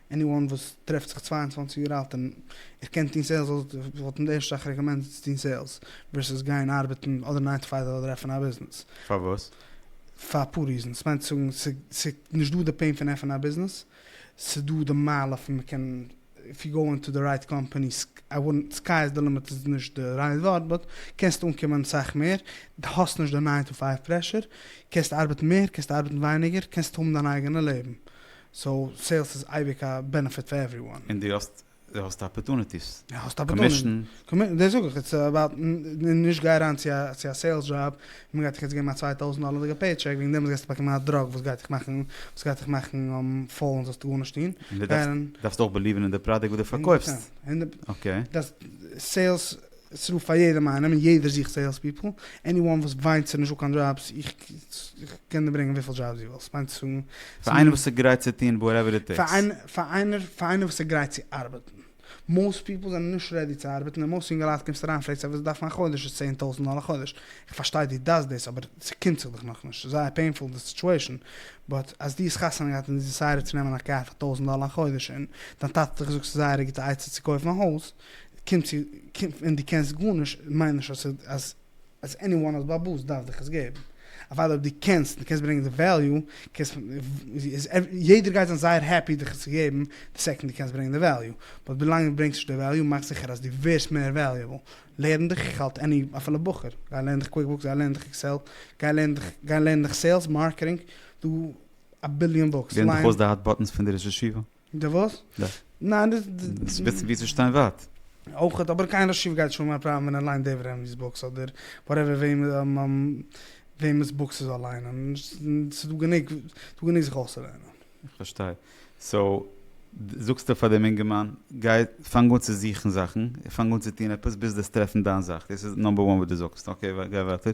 עני וואן וואס טרעפט זיך צוויי און צוואַנציק יאר אלט און איך קען טון סעילס אויך וואלט אין די ערשטע זאך רעקאמענדעד צו טון סעילס ווערסעס גיין ארבעטן אדער ניין טו פייוו אדער עפענען א ביזנעס. פארוואס? פאר אפאר ריזענס, מיינט צו זאגן ס'איז נישט דא די פעין פון עפענען א ביזנעס, ס'איז דא די מעלה פון מ'קען איף יו גאו אינטו די רייט קאמפעני סקיי איז די לימיט איז נישט די רייט ווארט באט קענסט אנקומען סאך מער, די האסט נישט די ניין טו פייוו פרעשור, קענסט ארבעטן מער קענסט ארבעטן ווייניגער, קענסט האבן דיין אייגענע לעבן. סאו סעילס איז אייביג א בענעפיט פאר עווריוואן. און דו האסט דו האסט אפערטוניטיס, האסט אפערטוניטיס, קאמישן. דאס זאג איך, איטס אבאוט, נישט גיי אריין צו א צו א סעילס דזשאב, מען גייט דיך יעצט געבן א צוויי טויזנט דאלערדיגע פעי טשעק, וועגן דעם גייסטו באקומען א דראג וואס גייט דיך מאכן, וואס גייט דיך מאכן פאול און זאלסט גארנישט טון. און דו דארפסט דארפסט אויך בעליווען אין די פראדוקט וואס דו פארקויפסט. אקעי. דאס סעילס עס רופט פאר יעדעם איינעם און יעדער זוכט סעילס פיפל, עני וואן וואס וויינט ס'איז נישטא קיין דזשאבס, איך קען דיר ברענגען וויפיל דזשאבס דו ווילסט, מיינט צו זאגן פאר איינער וואס איז גרייט צו טון וואטעווער איט טעיקס. פאר איינער פאר איינער וואס איז גרייט צו ארבעטן, מאוסט פיפל זענען נישט רעדי צו ארבעטן און מאוסט יונגעלייט קומסט אריין פרעגסט זיי וואס זיי דארפן א חודש איז צען טויזענט דאלער א חודש, איך פארשטיי דו דארפסט דאס אבער ס'קומט זיך דיך נאכנישט, ס'איז זייער פעינפול די סיטואשען, באט אז דו האסט חתונה געהאט און דו דיסיידעד צו נעמען א קאר פאר טויזענט דאלער א חודש און דיין טאטע האט דיך געזאגט ס'איז זייער א גוטע עצה צו קויפן א הויז, קומט צו קומט און דו קענסט גארנישט מיינט נישט אז אז אז עניוואן האט באבוס דארף דיך עס געבן אוודאי אויב דו קענסט דו קענסט ברענגען די וועליו קענסט איז יעדער גייט זיין זייער העפי דיך עס צו געבן די סעקאנד דו קענסט ברענגען די וועליו באט ווילאנג דו ברענגסט נישט די וועליו מאך זיכער אז דו ווערסט מער וועליעבל לערן דיך איך האלט עני אפילו בחור גיי לערן דיך קוויקבוקס גיי לערן דיך עקסעל גיי לערן דיך גיי לערן דיך סעילס מארקעטינג דא א ביליאן בוקס לערן דיך אויס די האט באטענס פון די ראש ישיבה די וואס? די. ניין די. דאס בעצם ווי צו שטיין ווייט. אויכעט, אבער קיין רשב י גייט שוין מיין פראבלעם ווען ער ליינט דעיוועד ענווי'ס בוקס אדער וואטעווער וועמענס בוקס ער זאל ליינען, ס'דא גענוג ס'דא גענוג זיך אויסצולערנען. איך פארשטיי. סאו, זאגסטו פאר דעם אינגערמאן, גיי פאנג אן צו זוכן זאכן, פאנג אן צו טון עפעס ביז דו וועסט טרעפן דיין זאך, דאס איז נאמבער וואן וואס דו זאגסט, אקעי גיי ווייטער.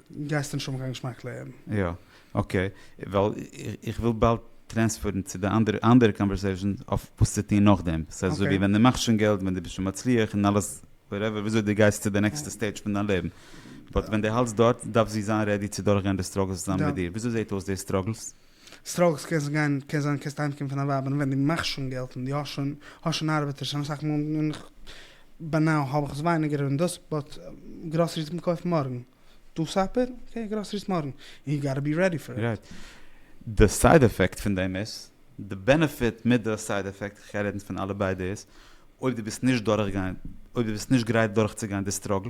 גייסט נישט האבן קיין געשמאק לעבן. יא אקעי ווייל איך וויל באלד טרענספערן צו די אנדערע אנדערע קאנווערסעישאן אויף וואס צו טון נאכדעם ס'איז אזוי ווי ווען די מאכסט שוין געלט ווען די ביסט שוין מצליח און אלעס וואטעווער וויאזוי די גייסט צו די נעקסטע סטעידזש פון דיין לעבן באט ווען די האלטסט דארט דארף זי זיין רעדי צו דורכגיין די סטראגלס צוזאמען מיט דיר וויאזוי זעהט אויס די סטראגלס? סטראגלס קענסט גיין קען זיין קענסט אהיימקומען פון א ווייב און ווען דו מאכסט שוין געלט און דו האסט שוין האסט שוין ארבעטער שוין אסאך מאל און איך ביי נאו האב איך עס ווייניגער און דאס באט גראסעריס קען מען קויפן מארגן דא סאפער אקעי גראסעריס מארגן און יו גאטע בי רעדי פאר איט. די סייד עפעקט פון דעם איז די בענעפיט מיט די סייד עפעקט איך קען רעדן פון אלע ביידע איז אויב דו ביסט נישט דורכגיין אויב דו ביסט נישט גרייט דורכצוגיין די סטראגל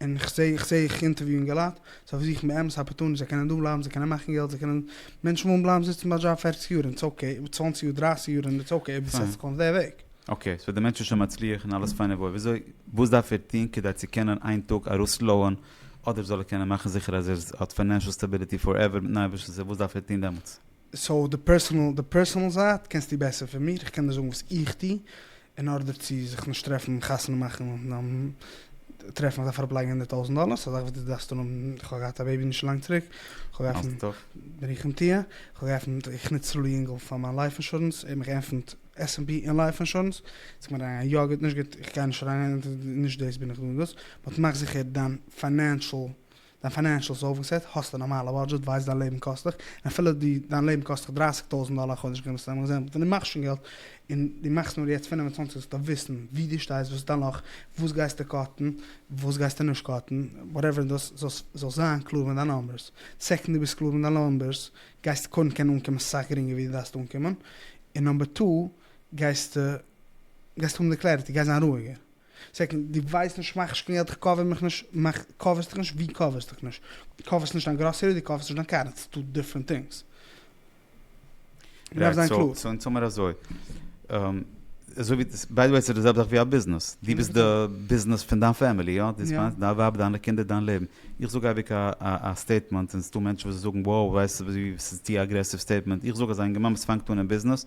און כ'זע איך זע איך אינטערוויו אינגעלייט, זיי פארזוכן באמת א פארטון, זיי קענען דא בלייבן, זיי קענען מאכן געלט, זיי קענען, מענטשן ווילן בלייבן זיצן ביי א דזשאב פֿערציק יאר און ס'אקעי, צוואַנציק יאר, דרײַסיק יאר און איטס אקעי, אויב דו סעטסט דיך אן אויף די וועג. אקעי, סאו די מענטש איז שוין מצליח און אלעס פיין און וואויל, וויאזוי, וואס דארף ער טון כדי צו קענען איין טאג ארויסלויען, אדער זאל ער קענען מאכן זיכער אז ער האט פיינענשעל סטעביליטי פארעווער מיטן אייבערשטנ'ס הילף, וואס דארף ער טון דעמאלטס? סאו די פערסענעל די פערסענעל זייט קענסטו בעסער פון מיר, איך קען דיר זאגן וואס איך טו אין ארדער צו זיך נישט טרעפן חתונה מאכן נאכן טרעפן איך דארף אראפ לייגן הונדערט טויזענט דאלער סאו זאך וואס דו דארפסט אנהאבן איך האב געהאט א בעיבי נישט לאנג צוריק איך האב געעפנט ברוכים תהיה איך האב געעפנט איך נוץ צו ליענגל פאר מיין לייף אינשורענס ער האט מיך געעפנט עס ענד פי און לייף אינשורענס איז קומט אריין יא גוט נישט גוט איך גיי נישט אריין נישט דאס בין איך דא און דאס באט מאך זיכער דיין פיינענשעל דיין פיינענשעל איז אויפגעסעט, האסט א נארמאלע בודזשעט, ווייסט דיין לעבן קאסט דיך, און אפילו די דיין לעבן קאסט דיך דרייסיג טויזענט דאלער א חודש ווי מ'האסט אמאל געזען, ווען די מאכסט שוין געלט, און די מאכסט נאר יעצט פֿינף און צוואַנציק זאלסטו וויסן ווי די שטייסט וואס דערנאך, וואס גייסטו קאטן, וואס גייסטו נישט קאטן, וואטעווער דאס זאלסט זאלסט זיין קלאר מיט דיין נאמבערס, סעקאנד די ביסט קלאר מיט דיין נאמבערס גייסטו קודם קענען אנקומען סאך גרינגער ווי די דארפסט אנקומען, און נאמבער טו גייסטו גייסטו האבן די קלעריטי, גייסט זיין רואיגער, סעקאנד, דו ווייסט נישט מאך נישט קיין געלט איך קאווער מיך נישט, מאך קאווערסט דיך נישט, ווי קאווערסט דיך נישט? דו קאווערסט נישט דיין גראסערי, דו קאווערסט נישט דיין קאר, איטס טו דיפרענט טינגס. מ'דארף זיין קלאר. סאו אונז האמער אזוי, אזוי ווי, ביי די וועי ס'איז די זעלבע זאך ווי א ביזנעס, דו ביסט די ביזנעס פון דיין פעמילי יא? דאס מיינט דיין ווייב דיינע קינדער דיין לעבן. איך זאג אייביג א א סטעיטמענט און ס'דא מענטשן וואס זאגן wow וואס ס'איז צו אגרעסיוו סטעיטמענט, איך זאג אז א אינגערמאן וואס פאנגט אן אין ביזנעס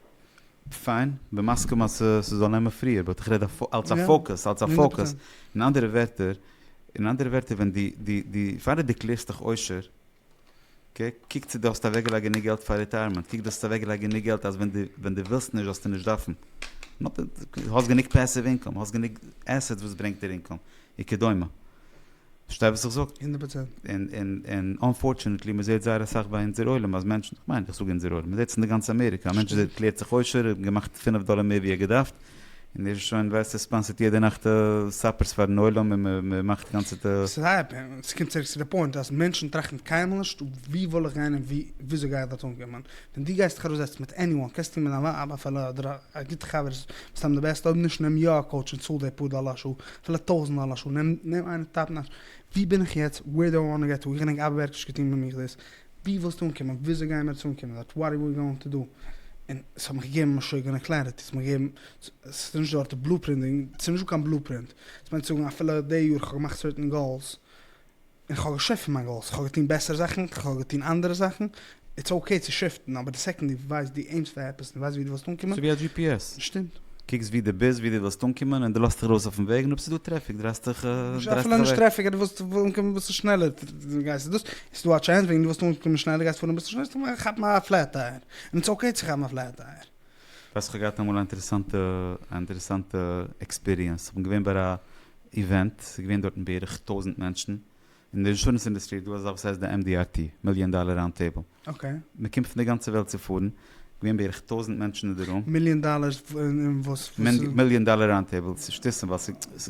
פיין, בין מסכים אז ס'זאל נעמען פריער, באט איך רעד אלס א פאוקוס, אלס א פאוקוס, אין אנדערע ווערטער, אין אנדערע ווערטער ווען די, די, די, פאר די דערקלערסט דיך עושר, אקעי, קוק צו די האסט אוועקגעלייגט גענוג געלט פאר ריטייערמענט, קוק די האסט אוועקגעלייגט גענוג געלט אז ווען די, ווען די ווילסט נישט זאלסטו נישט דארפן, האסט גענוג פעסיוו אינקאם, האסט גענוג עסעטס וואס ברענגט דיר אינקאם, וכדומה. פארשטיי וואס איך זאג? הונדערט פראצענט. און אנפארטשענעטלי מען זעט זייער אסאך ביי אונזער עולם אז מענטשן, איך מיין איך זאג אונזער עולם, מען זעט עס אין די גאנצע אמעריקע, א מענטש איז ערקלערט זיך עושר, ער האט געמאכט פינף דאלער מער ווי ער געדארפט, און ער איז שוין ווייסט ער ספאנסערט יעדע נאכט סאפערס פארן עולם און מען מאכט גאנצעטע. ס'קומט צוריק צו די פוינט אז מענטשן טראכטן קיינמאל נישט ווי וועל איך גיין און וויאזוי גיי איך דארט אנקומען, ווען דו גייסט דיך ארויסזעצן מיט עניוואן, קענסט טון מיט דיין ווייב אפילו אדער א גוטע חבר איז מסתם די בעסטע, אויב נישט נעם יא א קאוטש און צאל די פאר דאלער א שעה, פילע טויזענט דאלער א שעה, נעם נעם איינער טייפן א ש. ווי בין איך יעצט, וועיר דו איי וואנט טו געט טו, איך געדענק אייוועלט נישט געטון ביי מיך דאס, ווי ווילסטו אנקומען, וויאזוי גייען מיר עס אנקומען, דאט וואט אר ווי גאוינג טו דו, און עס האט מיך געגעבן משוגענע קלעריטי, ס'האט מיך געגעבן, עס איז נישט דארט די בלו פרינט, ס'איז נישטא קיין בלו פרינט, דאס מיינט צו זאגן אפילו די יאר איך האב געמאכט סערטען גאולס, איך האב געשעפט פון מיין גאולס, איך האב געטון בעסערע זאכן, איך האב געטון אנדערע זאכן, איטס אוקעי צו שיפטן, אבער די סעקאנד דו ווייסט דו עימסט פאר עפעס און דו ווייסט ווי דו ווילסט אנקומען, ס'איז ווי א דזשי פי עס, שטימט. קוקסט ווי דו ביסט, ווי דו ווילסט אנקומען, און דו לאזט דיך ארויס אויפן וועג, און אויב ס'איז דא טרעפיק דרייסט דיך נישט אפילו נישט אוועק. טרעפיק אז דו ווילסט אנקומען אביסל שנעלער גייסטו דאס, איז דא א טשענס וועגן דו ווילסט אנקומען שנעלער גייסט פארן אביסל שנעלער, כאפ א פלעט טייער, און איטס אוקעי צו כאפן א פלעט טייער. ווייסט כ'האב געהאט אמאל א אינטערעסאנטע אינטערעסאנטע עקספיריענס, כ'בין געווען ביי א איווענט, ס'איז געווען דארטן בערך טויזנט מענטשן, אין די אינשורענס אינדעסטרי איז דא אזא וואס הייסט די MDRT, מיליאן דאלער ראונד טעיבל, אקעי. מ'קומט פון די גאנצע וועלט צו פארן, געווען בערך טויזנט מענטשן אין די רום. מיליאן דאלער אין וואס? מיליאן דאלער ראונד טעיבל, ס'שטותים ווייל ס'.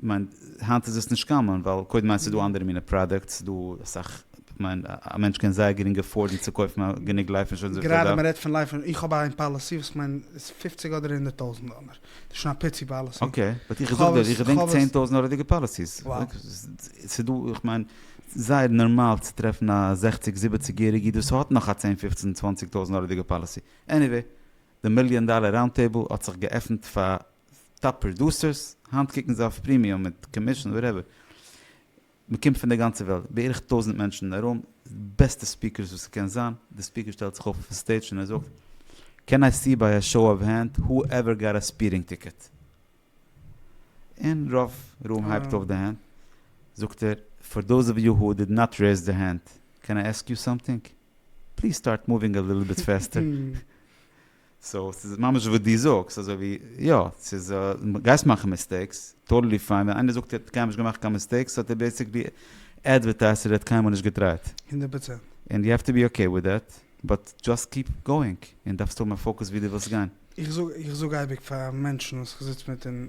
כ'מיין, היינט איז עס נישט קאמאן, ווייל קודם איינס איז דא אנדערע מינע פראדוקטס, ס'איז דא אסאך, כ'מיין, א מענטש קען זייער גרינג עפארדן צו קויפן א גענוג לייף אינשורענס וויפיל ער דארף. גראדע מען רעדט פון לייף אינשורענס, איך האב איין פאלעסי וואס כ'מיין איז פופציג אדער הונדערט טויזנט דאלער, ס'איז שוין א פיצי פאלעסי. אקעי, באט איך זאג דיר, איך געדענק צען טויזנט דאלערדיגע פאלעסיס. ס'איז דא, איך מיין, זייער נארמאל צו טרעפן א זעכציג זיבעציג יעריג איד וואס האט נאך א צען פופצן צוואנציג טויזנט דאלערדיגע פאלעסי. עניוועי, די מיליאן דאלער ראונד טעיבל האט זיך געעפנט פאר טאפ פראדוסערס, היינט קוקן זיי אויף פרימיום מיט קאמישן וואטעווער, מען קומט פון די גאנצע וועלט, בערך טויזנט מענטשן אין א רום, בעסטע ספיקערס וואס עס קען זיין, די ספיקער שטעלט זיך אויף אויפן סטעידזש און ער זאגט, קען איי סי ביי א שאו אוו הענד הו עווער גאט א ספירינג טיקעט? און רוב רום הייבט אויף די הענט, זאגט ער, פאר דאוז אוו יו הו דיד נאט רעיז דער הענד, קען איי עסק יו סאמטינג? פליז סטארט מאווינג א ליטל ביט פעסטער. סאו ס'איז ממש וואס דו זאגסט, אזוי ווי יא, ס'איז גייסט מאכן מיסטעיקס, טאטעלי פיין, ווען איינער זאגט ער האט קיינמאל נישט געמאכט קיין מיסטעיקס האט ער בעיסיקלי עדווערטייזט אז ער האט קיינמאל נישט געטרייט. הונדערט פראצענט. און יו העוו טו בי אקעי וויט דעט, באט דזשאסט קיעפ גאואינג, און דארפסט האבן א פאוקעס ווי דו ווילסט גיין. איך זאג איך זאג אייביג פאר מענטשן וואס איך זיץ מיט און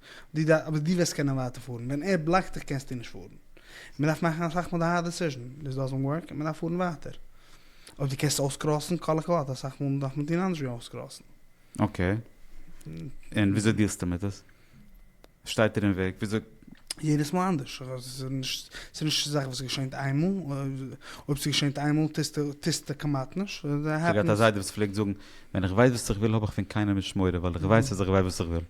דו דארפסט, אבער דו וועסט קענען ווייטער פארן, ווען ער בלאקט דיך קענסטו נישט פארן, מען דארף מאכן אסאך מאל די הארד דעסיזשען, דיס דאזענט ווארק און מען דארף פארן ווייטער, אויב דו קענסט אויסקראסן כל הכבוד, אסאך מאל דארף מען טון אנדערש ווי אויסקראסן. אקעי, און וויאזוי דיעלסטו מיט עס? שטייט דיר אין וועג? וויאזוי? יעדעס מאל אנדערש, ס'איז נישט א זאך וואס געשענט איין מאל, אויב ס'געשענט איין מאל טוסטו כמעט נישט, ס'העפענס. כ'האב געהאט א זיידע וואס פלעגט זאגן, ווען איך ווייס וואס איך וויל האב איך פון קיינעם נישט מורא, ווייל איך ווייס אז איך ווייס וואס איך וויל.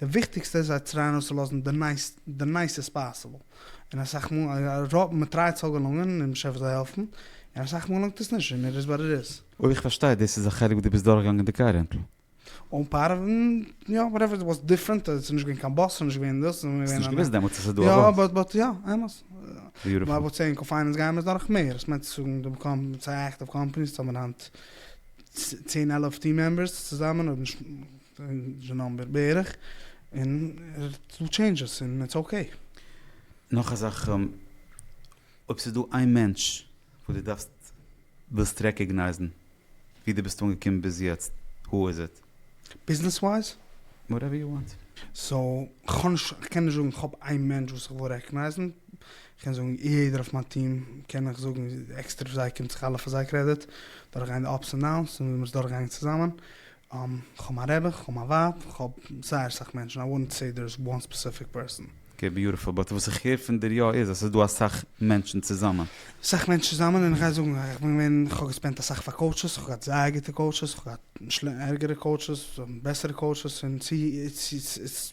די וויכטיגסטע איז זיי טרייען אויסצולאזן די נייסעסט פאסיבל, און אסאך מאל, רוב, מען טרייט ס'זאל געלונגען און באשעפער זאל העלפן, און אסאך מאל געלונגט עס נישט און איט איז וואט איט איז. אויב איך פארשטיי, דאס איז א חלק וואס דו ביסט דורכגעגאנגען די קאר רענטל. אן פאר, יא, וואטעווער, איט וואס דיפרענט, עס איז נישט געווען קיין באס, נישט געווען דאס, און מיר האסט נישט געוואוסט דעמאלטס אז ס'איז דא א באס? יא, באט, יא, אמת. ביוטיפול. באט סעם קא פיינענס גייען מיר דורך מער, עס מיינט צו זאגן די קאמ, ס'איז א עקטיוו קאמפאני, ס'האבן היינט צען עלעף טיעם מעמבערס צוזאמען, אויב נישט. די נאמבער בערך, און ער טוט טשעינדזשעס און איטס אקעי. נאך א זאך, אויב ס'איז דא איין מענטש וואס דו דארפסט, ווילסט רעקאגנייזן ווי דו ביסט אנגעקומען ביז יעצט, הו איז איט? ביזנעס ווייז? וואטעווער יו וואנט. סאו, כ'האב נישט, כ'קען נישט זאגן כ'האב איין מענטש וואס כ'וויל רעקאגנייזן, כ'קען זאגן יעדער אויף מיין טיעם קען איך זאגן עקסטער פאר זיי, קומט זיך אלע פאר זיי קרעדיט, דורכגיין די אפס און דאונס און ווי מ'איז דורכגעגאנגען צוזאמען, כ'האב מיין רעבען, כ'האב מיין ווייב, כ'האב זייער סאך מענטשן, איי וואלנט סעי דער איז וואן ספעסיפיק פערסאן. אקעי ביוטיפול, באט וואס איך הער פון דיר יא איז אז ס'איז דא אסאך מענטשן צוזאמען. אסאך מענטשן צוזאמען און כ'גיי זאגן איך בין געווען כ'האב געספענדט אסאך פאר קאוטשעס, כ'האב געהאט זייער גוטע קאוטשעס, כ'האב געהאט ערגערע קאוטשעס, בעסערע קאוטשעס און צו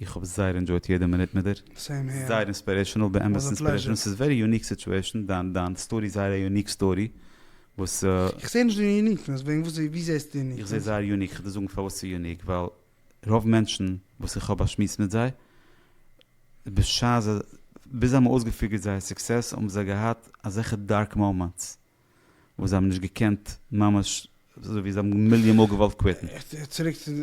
איך האב זייער ענדשויט יעדע מינוט מיט דיר, זייער אינספירעישענעל, באמת אינספירעישענעל, ס'איז ווערי יוניק סיטועשען, דיין סטארי איז זייער א יוניק סטארי, וואס. איך זעה נישט די יוניקנעס, וועגן וואס, ווי זעסטו די יוניקנעס? איך זעה זייער יוניק, איך וועל דיר זאגן פארוואס ס'איז יוניק, ווייל רוב מענטשן וואס איך האב באשמועסט מיט זיי, בשעת זיי, ביז זיי האבן אויסגעפיגערט זייער סוקסעס האבן זיי געהאט אזעלכע דארק מאמענטס, וואס זיי האבן נישט געקענט ממש אזוי ווי זיי האבן מיליאן מאל געוואלט קוויטן. צוריק צו די,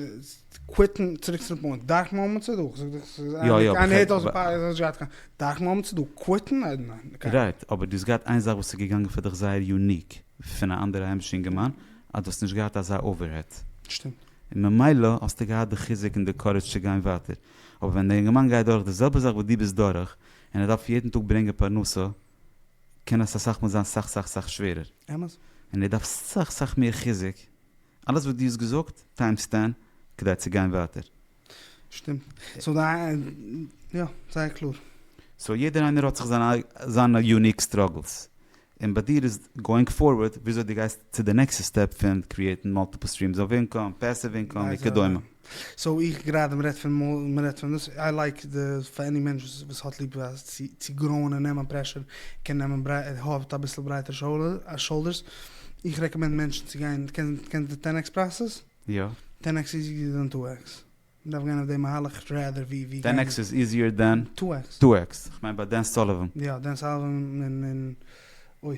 קוויטן, צוריק צו די פוינט, דארף מען האבן צדק, זאג דיך ס'איז א, יא יא, איינער הערט אויס די פאר, איז נישט געהאט קיין, דארף מען האבן צדק, קוויטן? אה ניין, קיינמאל. רייט, אבער דו האסט געהאט איין זאך וואס איז געגאנגען פאר דיך זייער יוניק פון א אנדערע היימישע אינגערמאן, אז דו האסט נישט געהאט אזא אווערהעט. שטימט. און ממילא האסטו געהאט די חיזוק און די קארעדזש צו גיין ווייטער. אבער ווען די אינגערמאן גייט דורך די זעלבע זאך וואס דו ביסט דורך, און ער דארף יעדן טאג ברענגען פרנסה, קען עס אסאך מאל זיין סאך סאך סאך שווערער. אמת. און דו דארפסט סאך סאך מער חיזוק, אלעס וואס דו האסט געזאגט טיימס טען, כדי צו גיין ווייטער. שטימט. סאו די יא, זייער קלאר. סאו יעדער איינער האט זיך זיין זיינע יוניק סטראגלס. און ביי דיר איז גאוינג פארווארד וויאזוי דו גייסט צו די נעקסטע סטעפ פון קריעטן מאלטיפל סטרימס אוו אינקאם, פעסיוו אינקאם וכדומה. סאו איך גראדע מ'רעדט פון מאל מ'רעדט פון דאס איי לייק די פאר עני מענטש וואס האט ליב צו גראון און נעמען פרעשור קען נעמען בריי האט אביסל ברייטער שאולדערס איך רעקאמענד מענטשן צו גיין קענסט קענסט די טען עקס פראסעס? יא. טען עקס איז איזיער דען טו עקס? מ'דארף גיין אויף די מהלך רעדער ווי ווי גיין. טען עקס איז איזיער דען? טו עקס. טו עקס. כ'מיין ביי דען סאליווען. יא דען סאליווען און און אוי.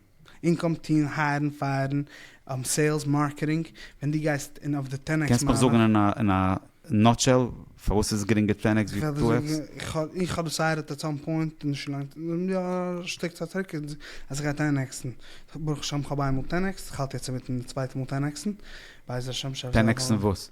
אינקאם טוהן הייערן פייערן סעילס מארקעטינג ווען די גייסט אין אויף די טען עקס מהלך. קענסט מיך זאגן אין א נאטשעל פארוואס ס'איז גרינגער טען עקס ווי טו עקס? איך האב דיסיידעט עט סאם פוינט נישט לאנג יא א שטיק צייט צוריק אז איך גיי טען עקסן ברוך השם כ'האב איינמאל טען עקסט כ'האלט יעצט אינמיטן די צווייטע מאל טען עקסן בעזר השם. טען עקסן וואס?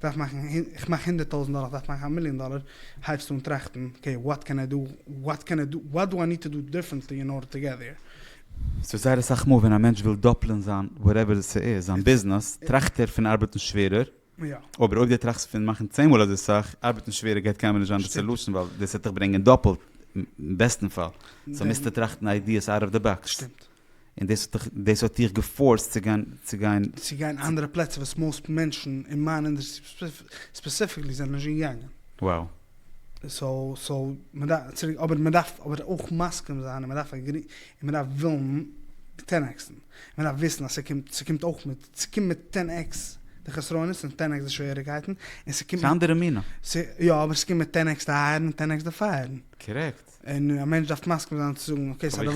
כ'דארף מאכן, איך מאך הונדערט טויזענט דאלער, כ'דארף מאכן א מיליאן דאלער, הייבסטו אן טראכטן, אקעי, וואט קען איי דא, וואט קען איי דא, וואט דא איי ניד טו דא דיפרענטלי אין ארדער טו געט דעיר. סאו זייער אסאך מאל ווען א מענטש וויל דאפלען זיין וואטעווער ס'איז, זיין ביזנעס, טראכט ער פון ארבעטן שווערער, אבער אויב דו טראכסט פון מאכן צען מאל אזוי סאך, ארבעטן שווערער גייט קיינמאל נישט זיין די סעלושן ווייל דאס וועט דיך ברענגען דאפלט אין בעסטן פאל, סאו מוזטו טראכטן איידיעס אוט אוו די באקס. שטימט. און דאס האט דיך, דאס האט דיך געפארסט צו גיין, צו גיין. צו גיין אנדערע פלעצער וואס מאוסט מענטשן אין מיין אינדערסטרי ספעסיפיקלי זענען נישט געגאנגען. וואו? סאו, סאו, מ'דארף, צוריק, אבער מ'דארף אבער אויך מסכים זיין און מ'דארף עגרי, און מ'דארף ווילן טען עקס'ן. און מ'דארף וויסן אז ס'קומט, ס'קומט אויך מיט, ס'קומט מיט טען עקס די חסרונות און טען עקס די שוועריקייטן, און ס'קומט מיט. ס'אנדערע מינע. ס, יא, אבער ס'קומט מיט טען עקס די אייערן און טען עקס די פייערן. קארעקט. און א מענטש דארף מסכים זיין צו זאגן אקעי ס'איז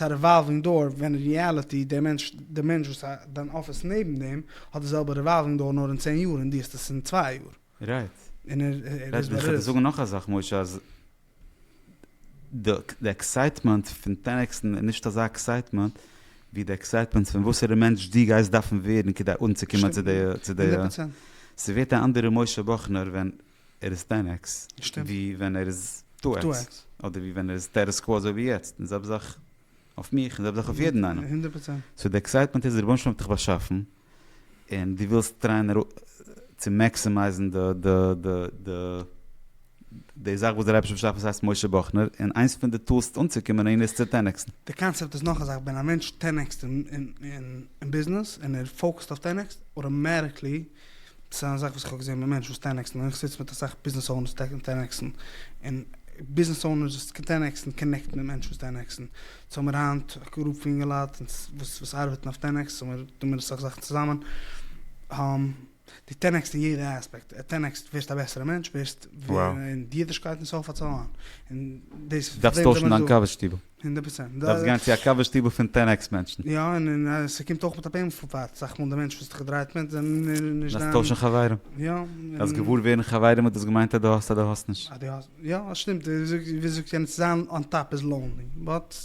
א ריוואלווינג דאור ווען אין ריעליטי דער מענטש דער מענטש וואס דיין אפיס נעבן דעם האט די זעלבע ריוואלווינג דאור נאר אין צען יאר און דו האסט עס אין צוויי יאר. רייט. איך וועל דיר זאגן נאך א זאך משה אז די עקסייטמענט פון טען עקס'ן איז נישט אזא עקסייטמענט ווי די עקסייטמענט פון וואסערע מענטש דו גייסט דארפן ווערן כדי אנצוקומען צו די. ס'ווערט א אנדערע משה באכנער ווען ער איז טען עקס ווי ווען ער איז טו עקס, אדער ווי ווען ער איז סטעטוס קווא אזוי ווי יעצט, און זעלבע זאך אויף מיך און זעלבע זאך אויף יעדן איינעם, סאו די עקסייטמענט איז די רבונו של עולם האט דיך באשאפן און דו ווילסט טרייען צו מעקסימייזן די זאך וואס דער אייבערשטער האט באשאפן וואס הייסט משה באכנער, און איינס פון די טולס אנצוקומען אהין איז צו טען עקסן. די קאנצעפט איז נאך א זאך, ווען א מענטש טען עקסט אין ביזנעס און ער פאוקעסט אויף טען עקסט אוטאמעטיקלי, ס'איז א זאך וואס איך האב געזען ביי מענטשן וואס טען עקסן, און איך זיץ מיט אסאך ביזנעס אונערס וואס טענה'ן עקסן, און ביזנעס אונערס וואס טענה'ן עקסן קאנעקטן מיט מענטשן וואס טענה'ן עקסן, סאו האבן מיר היינט א גרופ פון יונגע לייט וואס וואס ארבעטן אויף טען עקס, און טוען מיר אסאך זאכן צוזאמען, די טען עקסט אין יעדע אספעקט, טען עקסט ווערסט א בעסערע מענטש, ווערסט אין אידישקייט און סה פארט סאו אן, און דאס איז פארוועם זעמיר דא. דארפסט טוישן דיין קאווע שטיבל. הונדערט פראצענט. דארפסט גיין צו א קאווע שטיבל פון טען עקס מענטשן. יא, און ס'קומט אויך מיט א בענעפיט, אסאך מאל די מענטש וואס דיך דרייט מיט זענען נישט דיין. דארפסט טוישן חברים. יא. דארפסט געוואר ווערן חברים האט דאס געמיינט אז דו האסט אדער האסט נישט. אז דו האסט, יא שטימט, ווי זאגט יענער צו זיין אן טאפ איז לאונלי, באט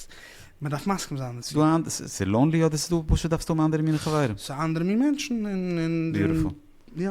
מען דארף מסכים זיין דערצו. ס'איז לאונלי אדער ס'איז דא פשוט דארפסטו האבן אנדערע מינע חברים. ס'איז א אנדערע מין מענטשן און. ביוטיפול. יא.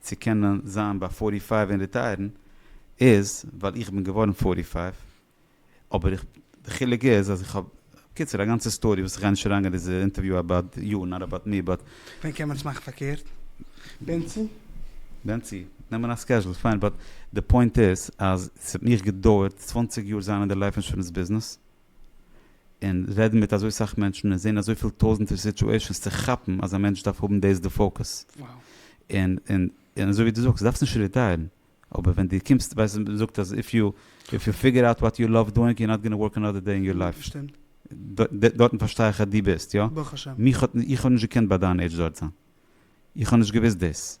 צו קענען זיין ביי פארטי פייוו און רעטייערן איז ווייל איך בין געווארן פארטי פייוו אבער איך די חילוק איז אז איך האב בקיצור א גאנצע סטארי וואס איך גיי נישט אריינגיין דיזע אינטערוויו אבאוט יו נאט אבאוט מי באט. ווען קען מען עס מאכן פארקערט? בנצי? בנצי? נעמען א סקעזשול פיין באט די פוינט איז אז ס'האט מיך געדויערט צוואַנציק יאר זיין אין די לייף אינשורענס ביזנעס און רעדן מיט אזוי סאך מענטשן און זעהן אזויפיל טויזענטער סיטועשענס צו כאפן אז א מענטש דארף האבן דאס די פאוקעס און און און אזוי ווי דו זאגסט דארפסט נישט ריטייערן אבער ווען די קומסט ווייסט אז מען זאגט אז איף יו איף יו פיגער אוט וואט יו לאוו דואינג יו נאט גאנא ווארק אנאדער דעי אין יור לייף דארטן פארשטיי איך אז דו ביסט יא מיך האט איך האב נישט געקענט ביי דיין עידזש דארט זיין איך האב נישט געוויסט דאס.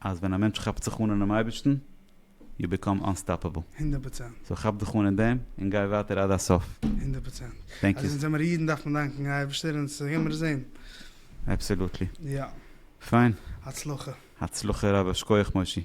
אז ווען א מענטש כאפט זיך אן אינעם אייבערשטן, יו ביקאם אנסטאפעבל. הונדערט פראצענט. סאו כאפ דיך אן אין דעם, און גיי ווייטער עד הסוף. הונדערט פראצענט. טענק אז יו. אונז זעמער אידן דארף מען דאנקן א אייבערשטער און עס געבן רזען. אבסעלוטלי. יא. פיין. הצלחה. הצלחה רבה, שקויעך מושי.